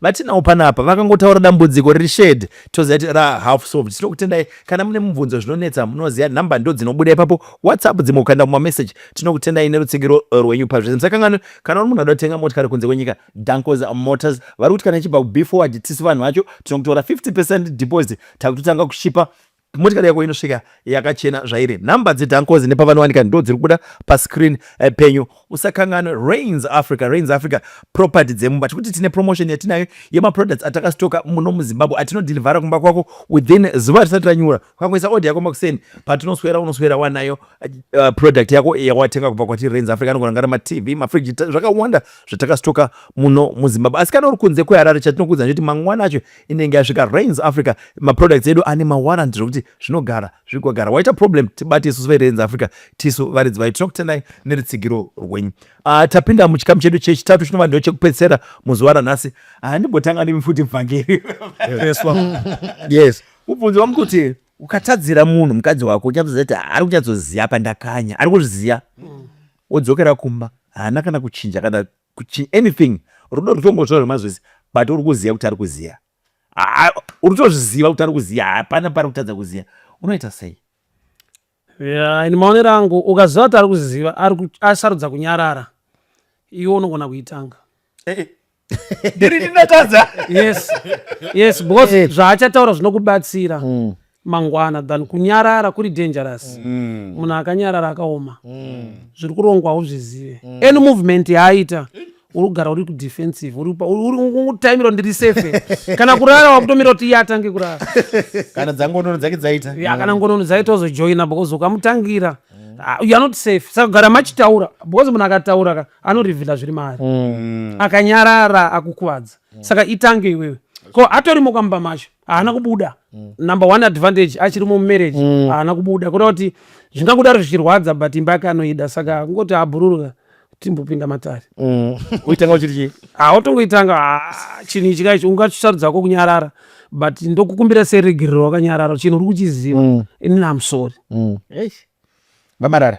vatinawo panapa vakangotaura dambudziko riri shed toziva kuti ra half solved tinokutendai kana mune mubvunzo zvinonetsa munoziva nhamba ndo dzinobuda ipapo whatsapp dzimwe kukaenda kumameseji tinokutendai nerutsigiro eh, rwenyu pazvese musakanganwe kana uri munhu anoda kutenga motikari kunze kwenyika dancos motors vari kuti kana ichibva kubeforward tisu vanhu vacho tinokutora 50 percent deposit takutotanga kushipa Motikari yako inosvika yakachena zvairi. Number dzeDankozi nepavanowanika ndo dziri kubuda pascreen eh, penyu. Usakanganwe Rains Africa, Rains Africa property dzemumba. Tikuti tine promotion yatinayo yemaproducts atakastoka muno muZimbabwe atinodhilivhara kumba kwako within zuva risati ranyura. Ukangoisa order yako makuseni patinoswera unoswera wanayo uh, product yako yawatenga kubva kwatiri Rains Africa anogona ngara maTV, mafridge zvakawanda zvatakastoka muno muZimbabwe. Asi kana uri kunze kweHarare chatinokuudza ndechoti mangwana acho inenge yasvika rains africa maproducts edu ane mawarrant zvekuti zvinogara zvigogara waita problem tibati isusu verains africa tisu varidzi vayo tinoku tendai nerutsigiro rwenyu uh, tapinda muchikamu chedu chechitatu chinova ndo chekupedzisera muzuva ranhasi ah, ndimbotanga uh, nemi futi mvhangeri yes mubvunzo wangu kuti ukatadzira munhu mukadzi wako uchatoziva kuti ari kunyatsoziva pandakanya ari kuzviziva mm. wodzokera kumba haana kana kuchinja kana kuchi anything rudo rutongozvira rwemazvese but uri kuziva kuti ari kuziva uri tozviziva kuti ari kuziva hapana pari kutadza kuziva unoita sei yeah, ini maonero angu ukaziva kuti ari kuziva asarudza kunyarara iwe unogona kuitanga eh, eh. ndiri ndinatadza yes yes because eh. zvaachataura zvinokubatsira mm. mangwana than kunyarara kuri dangerous mm. munhu akanyarara akaoma mm. zviri kurongwa hauzvizive mm. any movement yaaita uri kugara uri kudefensive urikutaimira ndiri safe kana kurara wakutomira kuti iye atange kurara kana dzangonono dzake dzaita ya kana ngonono dzaita ozojoina because ukamutangira ah, you are not safe saka kugara machitaura because munhu akataura ka anorivhila zviri maari mm. akanyarara akukuvadza saka itange iwewe ko atorimo kwamba macho haana kubuda mm. number one advantage achiri mumarriage mm. haana kubuda kuda kuti zvingakudaro zvichirwadza but imba yake anoida saka kungoti abhururuka timbopinda matare mm. uitanga uchiri chii hautongoitanga ah, ah, chinhu ichi kaichi ungachisarudzako kunyarara but ndokukumbira seregerero wakanyarara chinhu uri kuchiziva mm. inini amsori vamarara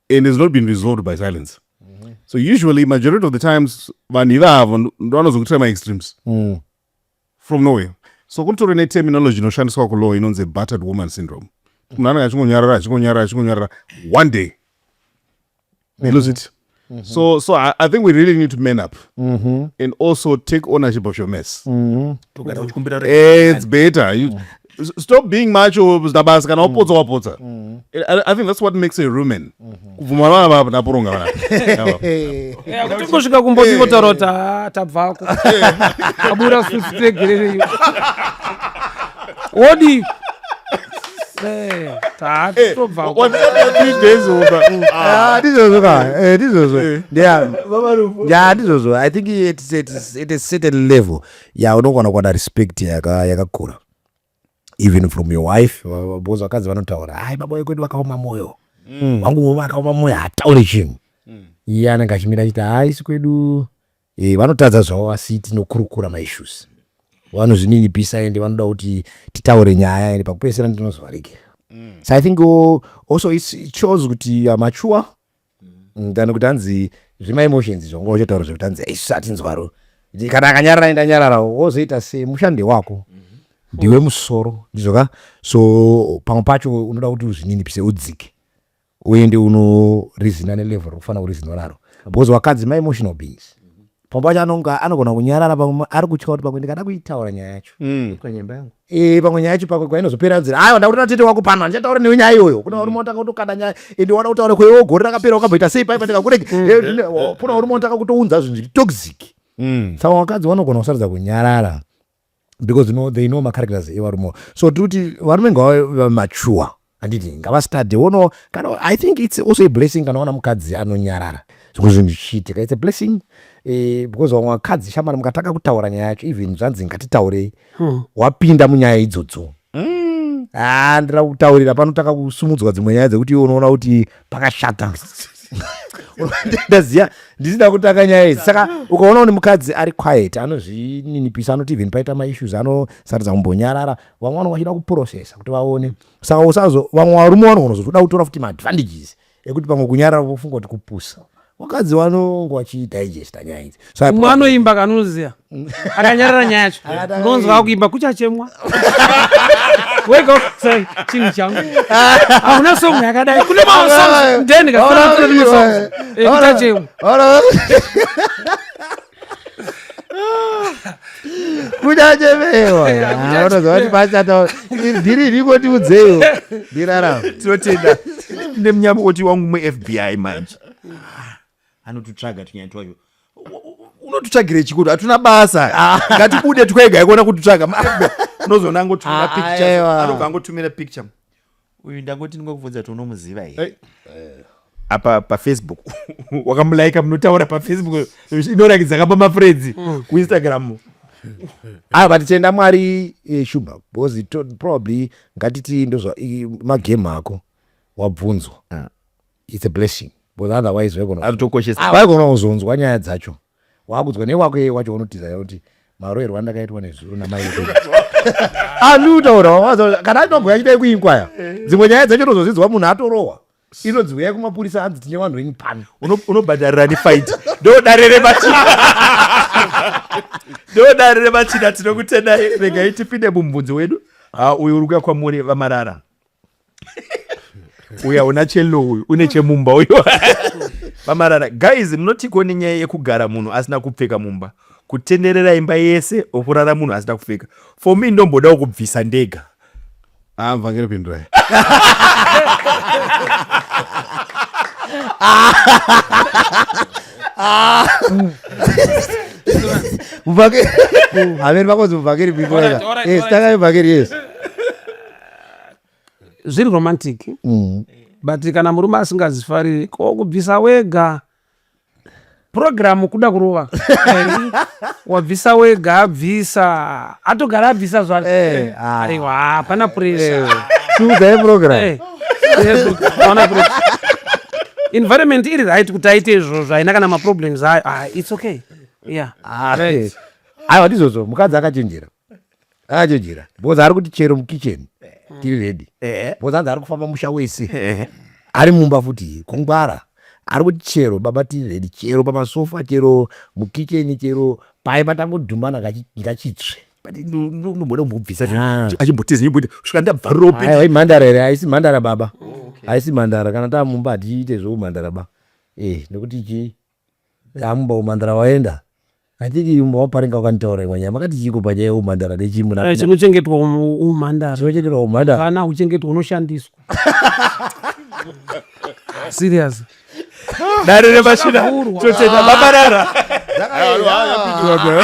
and has not been resolved by silence mm-hmm. so usually majority of the times vanhu ivavo ndo vanozongotira maextremes mm. from nowhere so kunotori neterminology inoshandiswa kulaw inonzi battered woman syndrome munhu anenge achingonyarara achingonyarara achingonyarara one day they lose it mm -hmm. Mm-hmm. So, so I, I, think we really need to man up mm-hmm. and also take ownership of your mess. Mm-hmm. It's better. You, mm. stop being macho zidabasi kana wapotsa wapotsa mm. mm. i think that's what makes a rumen mm-hmm. kubvuma vana vapa naporonga vanakutongosvika kumboti votaura kuti ah, tabvako abura susi tegerereiwo wodii ndizvozvo ndizvozvo i think at a certain level ya unogona kuwana respect yakakura yaka even from your wife because vakadzi vanotaura hai baba wekwedu vakaoma mwoyo mm. wangu mm. vakaoma mwoyo hataure chinhu mm. iye anenge achimira achiti haisi kwedu e, vanotadza zvavo asi tinokurukura maissues vanozvininipisa ende vanoda kuti titaure nyaya ende pakupesera ndinozovharekera mm. so i think also it shows kuti youare mature mm, than kuti hanzi zvemaemotions izvo unga uchitaura zvekuti hanzi isu hatinzwaro kana akanyarara aenda nyararawo wozoita semushandi wako ndiwe musoro ndizvo ka so pamwe pacho unoda kuti uzvininipise udzike uende unorizina nelevel rokufanira kurizinwa naro because wakadzi maemotional beings pamwe pacho anonga anogona kunyarara pamwe ari kutya kuti pamwe ndikada kuitaura nyaya yacho mm. panyemba yangu eh, pamwe nyaya yacho pamwe kwainozopera nzira aiwa ndakutoda tete wako pano handichataura newe nyaya iyoyo kuna uri motaka kutokanda nyaya ende wada kutaura kwewo gore rakapera wakamboita sei paipa ndikakurege mm. eh, oh, kuna uri motaka kutounza zvinhu zviri toxic mm. saka vakadzi vanogona kusarudza kunyarara because you know, they know macharacters evarumewo so tiri kuti varume ngavamachuwa handiti ngavastade wono kana i think its also a blessing kana wana mukadzi anonyarara zvimwe zvinhu zvichiitika its a blessing eh, because vamwe vakadzi shamari mukatanga kutaura nyaya yacho even zvanzi ngatitaurei hmm. wapinda munyaya idzodzo Mm. Ah, ndira kutaurira pano takakusumudzwa dzimwe nyaya dzekuti iwe unoona kuti pakashata ndaziva ndisina kutanga nyaya idzi saka ukaona kuti mukadzi ari quiet anozvininipisa anoti even paita maissues anosaridza kumbonyarara vamwe vanonga vachida kuprocessa kuti vaone saka usazo vamwe varume vanonga unozotoda kutora futi maadvantages ekuti pamwe kunyarara vofunga kuti kupusa vakadzi vanonge vachidigesta nyaya idzi umwe anoimba kanoziva akanyarara nyaya yacho unonzwa akuimba kuchachemwa wega sorry chinhu changu hauna song yakadai kune mamwe songs then kasongs ekuchachemwa kuchachemewa unoziva kuti pachata dhiri iriko tiudzeiwo ndirarama tinotenda tine munyamukoti wangu mufbi manje anotutsvaga tunyaya twacho unotutsvagira chikuti hatuna basa ah. ngatibude twega ikuona kututsvaga unozoona angotumira ah, picture anobva angotumira picture uyu ndangoti ndingokubvunza kuti unomuziva here apa pafacebook wakamulaika munotaura pafacebook inorakidza kapa mafredzi mm. kuinstagram aa ah, but tenda mwari eh, shuba because probably ngatiti ndozva magame ako wabvunzwa ah. its a blessing because otherwise vaigona kuzonzwa nyaya dzacho wakudzwa newako yeye wacho unotiza yauti maroerwa andakaitwa nezuro namai anotaura kana atinogwaya chidai kuinkwaya dzimwe nyaya dzacho tozozidzwa munhu atorohwa inonzi huyai kumapurisa anzi tine vanhu venyu pano unobhadharira nefaiti ndodare remachina ndodare remachina tinokutendai regai tipinde mumubvunzi wedu uyu uri kuya kwamuri vamarara uya una chelo uyu une chemumba uyu vamarara guys munotiko nenyaya yekugara munhu asina kupfeka mumba kutenderera imba yese okurara munhu asina kupfeka for me ndombodawo kubvisa ndega amva ah, ngeripindurai muvhakeri hameni vakonzi muvhakeri pindurai yes tangai muvhakeri yes zviri romantic mm. but kana murume asingazifariri ko kubvisa wega purogiramu kuda kurova wabvisa wega abvisa atogara abvisa zvacho eh, ah. aiwa hapana puresha eh, eh, environment iri right kuti aite izvozvo haina kana maproblems ayo ah, its okay yeah ah, aiwa ndizvozvo mukadzi akachenjera ajejera because ari kuti chero mukitchen tiri ready Eh. because anzi ari kufamba musha wese Eh. ari mumba futi kungwara ari kuti chero baba tiri ready chero pamasofa chero mukitchen chero paye patangodhumana kachi- ngachitsve But no- no- nomboda kumbobvisa Ah. achimbotiza nyimboita svika ndabvarira upi Aiwa, imhandara here haisi mhandara baba haisi mhandara kana taa mumba hatiite zveumhandara ba eh nekuti chii Yaa mumba umhandara waenda. I think mumba waparinga wakanitaura imwe nyaya. Makati chiiko panyaya yeumhandara nechii muna? Eh, chinochengetwa umhandara. Chinochengetwa umhandara. Kana uchengetwa unoshandiswa. Serious. Dare remashina chochena babarara. Dare.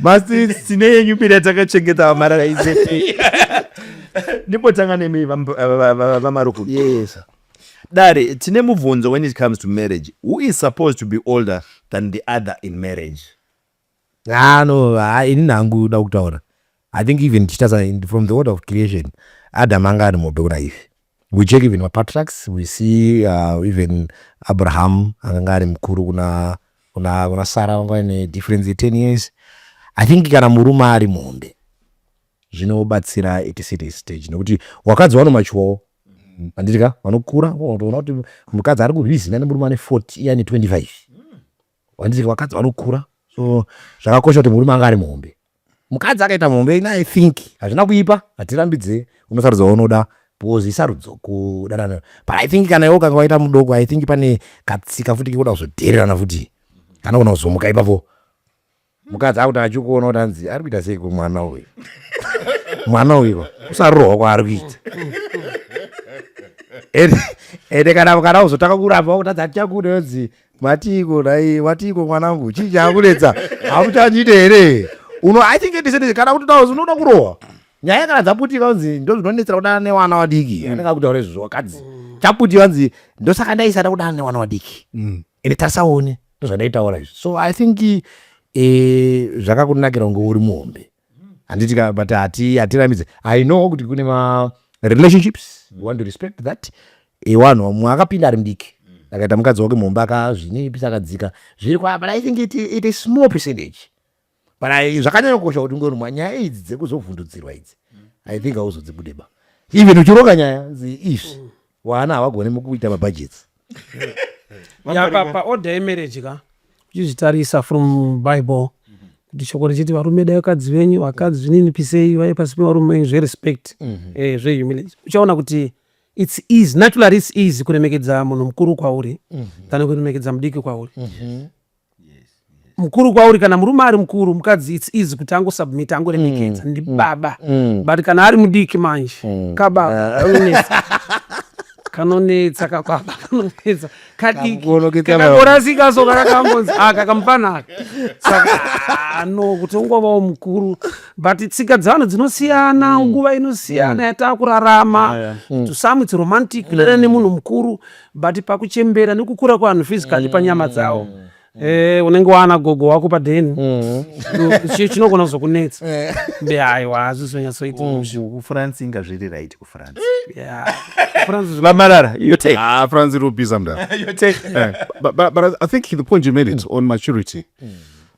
masi sine yenyu mbiri yatakachengeta vamarara izete ndipotanga nemi vamaruku yes dare tine mubvunzo when it comes to marriage who is supposed to be older than the other in marriage Ah no, ah, ini nangu da kutaura. I think even tichitasa from the order of creation, Adam anga ari muhope kuna Eve. We check even mapatriarchs, we see uh, even Abraham akanga ari mukuru kuna kuna kuna Sarah vanga ine difference ye 10 years. I think kana murume ari muhombe zvinobatsira at a certain stage nekuti wakadzi wanomachuwawo anditi ka vanokura unotoona kuti mukadzi ari kurwizina nemurume ane 40 iye ane 25 wanditi vakadzi vanokura so zvakakosha kuti murume anga ari muhombe mukadzi akaita muhombe ina i think hazvina kuipa hatirambidze unosarudza waunoda because isarudzo kudanana but i think kana iwe ukanga waita mudoko i think pane katsika futi kekuda kuzodhererana futi kana kona kuzomuka ipapo mukadzi akuti achikuona kuti anzi ari kuita seiko mwana uyu mwana uyiko kusarohwa kwaari kuita ende kana kana uzotanga kuramba wakutadza tichakuda yonzi matiiko nai watiiko mwanangu chii chaakunetsa hamuchanyite here uno i think ndisendese kana kuti taozi unoda kurohwa nyaya kana dzaputika unzi ndo zvinonetsera kudana newana wadiki mm. anenge akutaura izvozvo wakadzi chaputi vanzi ndosaka ndaisada kudana newana wadiki mm. ende tarisaone ndozvandaitaura izvi so i think eh, zvakakunakira kunge uri muhombe handiti ka but hati hatirambidze i know kuti kune ma relationships you want to respect that eh, wanhu mumwe akapinda ari mudiki akaita mukadzi wake muhombe akazvinipisa akadzika zviri kwa but i think it, it is small percentage but zvakanyanya kukosha kuti unge unwa nyaya idzi dzekuzovhundudzirwa idzi mm. i think auzodzibudeba even uchironga nyaya izvi mm. waana havagone mukuita mabhajets paoda yemereji ka uchizvitarisa from bible kuti shoko richiti varume dai vakadzi venyu vakadzi zvinini pisei vaye pasi pevarume venyu zverespect mhm. eh, zvehumility uchaona kuti its easy naturally its easy kuremekedza munhu mukuru kwauri mhm. than kuremekedza mudiki kwauri mhm. mukuru kwauri kana murume ari mukuru mukadzi its easy kuti angosubmita angoremekedza mm, ndibaba mm, mm. but kana ari mudiki manje mm. kababa ah. kanonetsa kakwaba kanonetsa kadikikakorasikaso kakakangonzi aka kamufanaka saka ah, no kuti ungovawo mukuru but tsika dzevanhu dzinosiyana mm. nguva inosiyana mm. yatakurarama ah, mm. to some its romantic kudanana nemunhu mukuru but pakuchembera nekukura kwevanhu physically panyama dzawo mm. Eh, unenge waana gogo wako padheni mm. chinogona kuzokunetsa eh. be aiwa hazvizonyatsoita mm. kufrance inga zviri right kufrance vamarara ah, france irikubiza mda eh, but i think the point you made it on maturity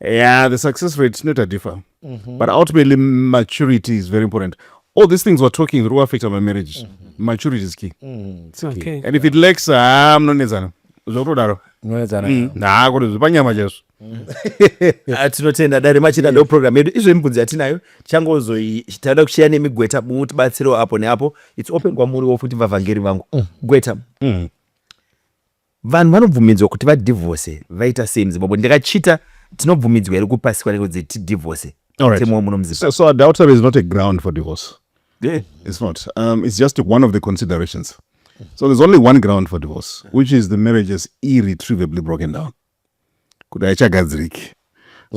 yeah the success rate inoita differ mm -hmm. but ultimately maturity is very important all these things we're talking through affect our marriage mm -hmm. maturity is key, mm -hmm. it's okay. key and if it lacks haa ah, munonetsana zvokutodaro munonetsana mm. naa kuti zvipanyama chaizvo Ah, tinotenda dare machida ndo program yedu izvo imibvunzo yatinayo changozoitaida kusheya nemigweta mutibatsirewo apo neapo its open kwamuriwo futi vavhangeri vangu mm. gweta mm. Vanhu vanobvumidzwa kuti vadivhose vaita sei muzimbabwe ndikachita tinobvumidzwa here kupasiswa nekunzi tidivhose mutemo wemuno muzimbabwe so adultery is not a ground for divorce yeah. it's not um, it's just one of the considerations so there's only one ground for divorce which is the marriage is irretrievably broken down kuti haichagadziriki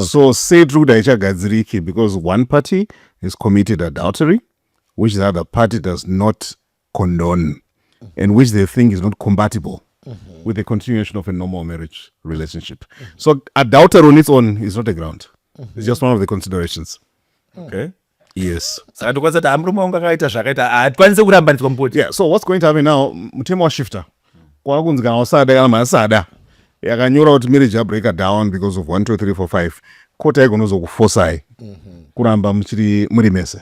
so say tiri kuti haichagadziriki because one party is committed adultery which the other party does not condone and which they think is not compatible mm -hmm. with the continuation of a normal marriage relationship. Mm -hmm. So adultery on its own is not a ground. Mm -hmm. It's just one of the considerations. Mm. Okay. Yes. Saka ndokwanisa kuti amurume wangu akaita zvakaita hatikwanise kurambaniswa mupoti. Yeah, so what's going to happen now mutemo washifta kwava kunzi kana wasada kana masada yakanyora kuti marriage yabreaker down because of 1 2 3 4 5 kota igonozokufosai mm -hmm. kuramba muchiri muri mese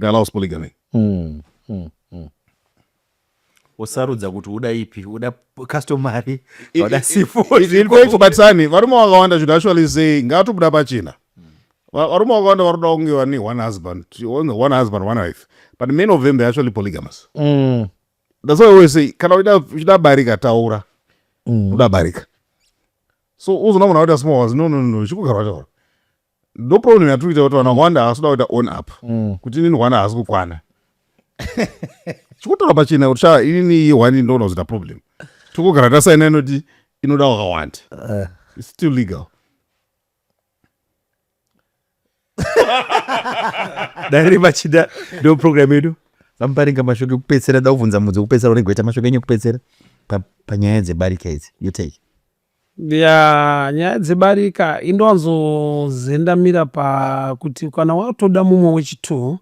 They allows polygamy. Mm, mm, mm. usarudza kuti uda ipi uda customary uda sifo In fact, batisani varume vakawanda should actually say ngatobuda pachena. Va- Varume vakawanda varoda kunge vane one husband, only one husband, one wife. But many of them they're actually polygamous. Mm, That's why I always say kana uchida uchida barika taura. Mm. Uda barika. So uzoona munhu akuita small ones. No no no, chikugara taura. ndo problem yatiri kuita kuti vanhu vakawanda havasi kuda kuita on up mm. kuti inini hwana haasi kukwana chikutaura pachena kuti shaa inini iyi hwani ndoona kuzoita problem tikugara tasaina inoti inoda wakawanda eh. its still legal dare vachida ndo program yedu vamuparinga mashoko ekupedzisira da kuvhunza mudzi wekupedzisira unenge waita mashoko enyu ekupedzisira panyaya dzebarika idzi you take Yaa nyaya dzebarika indowanzozendamira pakuti kana watoda mumwe wechitwo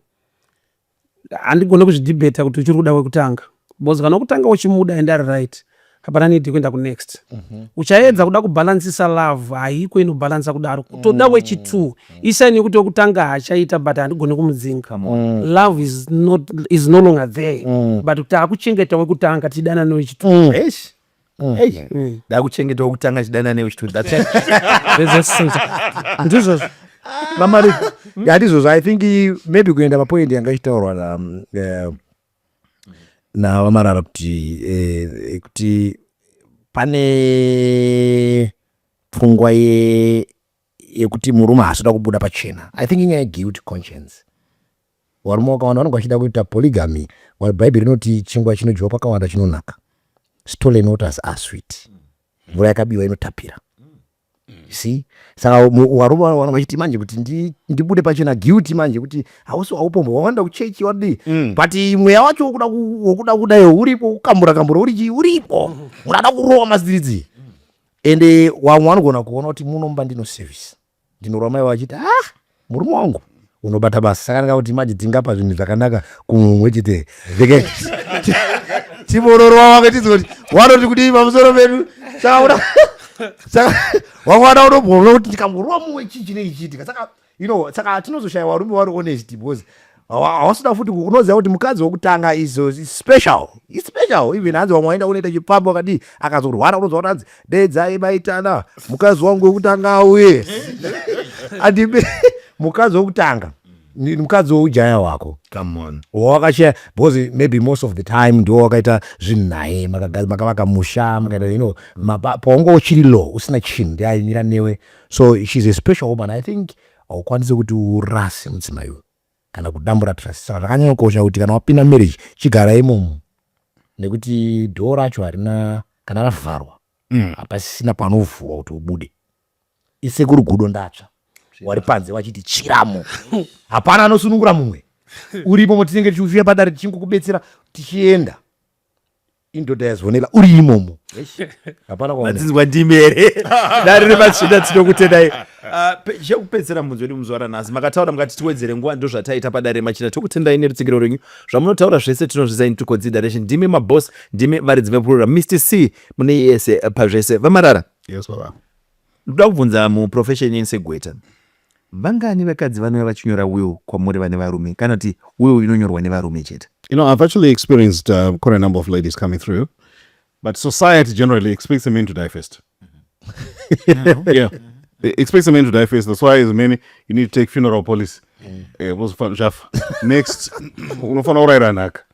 handigone kuzvidhibheta kuti uchiri kuda wekutanga bcause kana kutanga uchimuda and ari right hapana nidi kuenda kunext mhm. uchaedza kuda kubhalansisa love haiko inobhalansa kudaro kutoda mm. wechitwo mm. isaini yekuti wekutanga hachaita but handigone kumudzinga mm. love is no longer there but kuti akuchengeta wekutanga tidanane wechitwo Mm. Hey, mm. dakuchengeta wokutanga chidana newe chitundizvozvo vamari handizvozvo i think maybe kuenda papoint yanga ichitaurwa na um, eh, navamarara kuti eh, kuti pane pfungwa yekuti murume haasi kuda kubuda pachena i think inyaya yeguilt conscience varume vakawanda vanenge vachida kuita polygamy while bhaibheri rinoti chingwa chinodyiwa pakawanda chinonaka stolen waters are sweet mvura yakabiwa inotapira si saka warume vanenge vachiti manje kuti ndibude pachena guilty manje kuti hausi waupombwa wawanda kuchechi wadii mm. but mweya wacho wokuda kudayo uripo kukambura kambura urichi uripo mm. unada kurowa maziridzi ende wamwe wanogona kuona kuti muno mumba ndino service ndinorwa mai vachiti ah murume wangu unobata basa saka ndinga kuti manje tingapa zvinhu zvakanaka kumumwe chete veke tivororwa wake tiziva kuti wanoti kudii pamusoro pedu saka saka wamwe wada unombomona kuti ndikamurwa mumwe chii chinenge chiitika saka you know saka hatinozoshaya varume vari honest because hawasuda futi unoziva kuti mukadzi wekutanga is special is special even hanzi vamwe vaenda unoita chipfambo akadii akazorwara unoziva kuti hanzi dedzai maitana mukadzi wangu wekutanga auye andibe mukadzi wekutanga mukadzi weujaya hwako wawakashaya because maybe most of the time ndiwo wakaita zvinhu naye makavaka musha makaita you know paunge uchiri low usina chinhu ndiaimira newe so she's a special woman i think haukwanise kuti urase mudzimai uyu kana kudambura trust saka zvakanyanya kukosha kuti kana wapinda marriage chigara imomo nekuti dhoo racho harina kana ravharwa mm. hapasisina panovhurwa kuti ubude isekuru gudo ndatsva wari panze wachiti chiramo hapana anosunungura mumwe uripo motinenge tichiuya padare tichingokubetsera tichienda indoda yazionela uri imomo hapana kwaadzinzwa ndimi here dare rematsvina tinokutendai ah, chekupedzisira mubvunzo wedu muzvara nhasi makataura mukati tiwedzere nguva ndo zvataita padare remachina tokutendai nerutsigiro rwenyu zvamunotaura zvese tinozvizai nitukodzi direction ndimi maboss ndimi varidzi vepurura mr c mune yese pazvese vamarara yes baba Ndoda kubvunza mu profession yenyu segweta vangani vakadzi vanouya vachinyora will kwamuri vane varume kana kuti will inonyorwa nevarume chete? You know, I've actually experienced uh, quite a number of ladies coming through, but society generally expects the men to die first. yeah. They expect the men to die first. That's why as men, you need to take funeral policy. Yeah. Uh, next, unofanira urayira nhaka.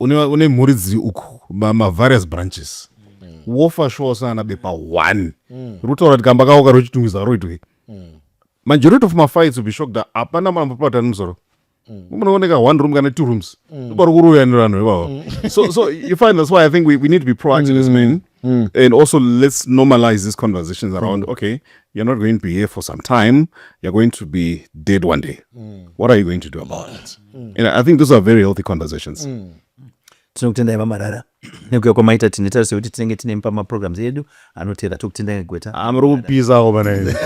une, une mhuri dziri uku mavarious branches wofa shuwa usina ana bepa one mm. rutaura kuti kamba kako karochitungwiza roitwei mm. majority of mafights will be shocked that hapana mambo pavatani musoro mm. munooneka one room kana two rooms mm. ndopari kuroyanira vanhu ivavo mm. so, so you find that's why i think we, we need to be proactive mm. as men Mm. And also, let's normalize these conversations around mm. okay, you're not going to be here for some time, you're going to be dead one day. Mm. What are you going to do about it? Mm. And I think those are very healthy conversations. Mm. tinokutendai vamarara nekuya kwamaita tine tarise kuti tinenge tine pamaprograms edu anotera tokutendai ngegweta amuri ah, kupisawo pana ive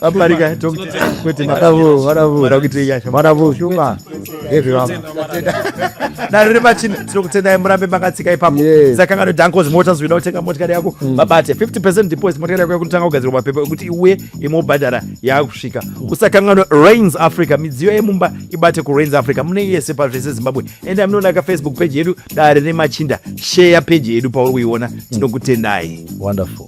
vaparika tokuti makavoo varavoo rakuti yasha varavoo shuma naro riri pachina tiri kutendai murambe makatsika ipapo sakangano dankozi mota zvoida kutenga motikari yako mm. babate 50 percent deposit motikari yako yakutanga kugadzirwa mapepa ekuti iuye imobhadhara yaakusvika mm. usakangano rains africa midziyo yemumba ibate kurains africa mune yese pazvese zimbabwe enda munonaka facebook page yedu dare nemachinda sheya page yedu pauri kuiona mm. tinokutendai wonderful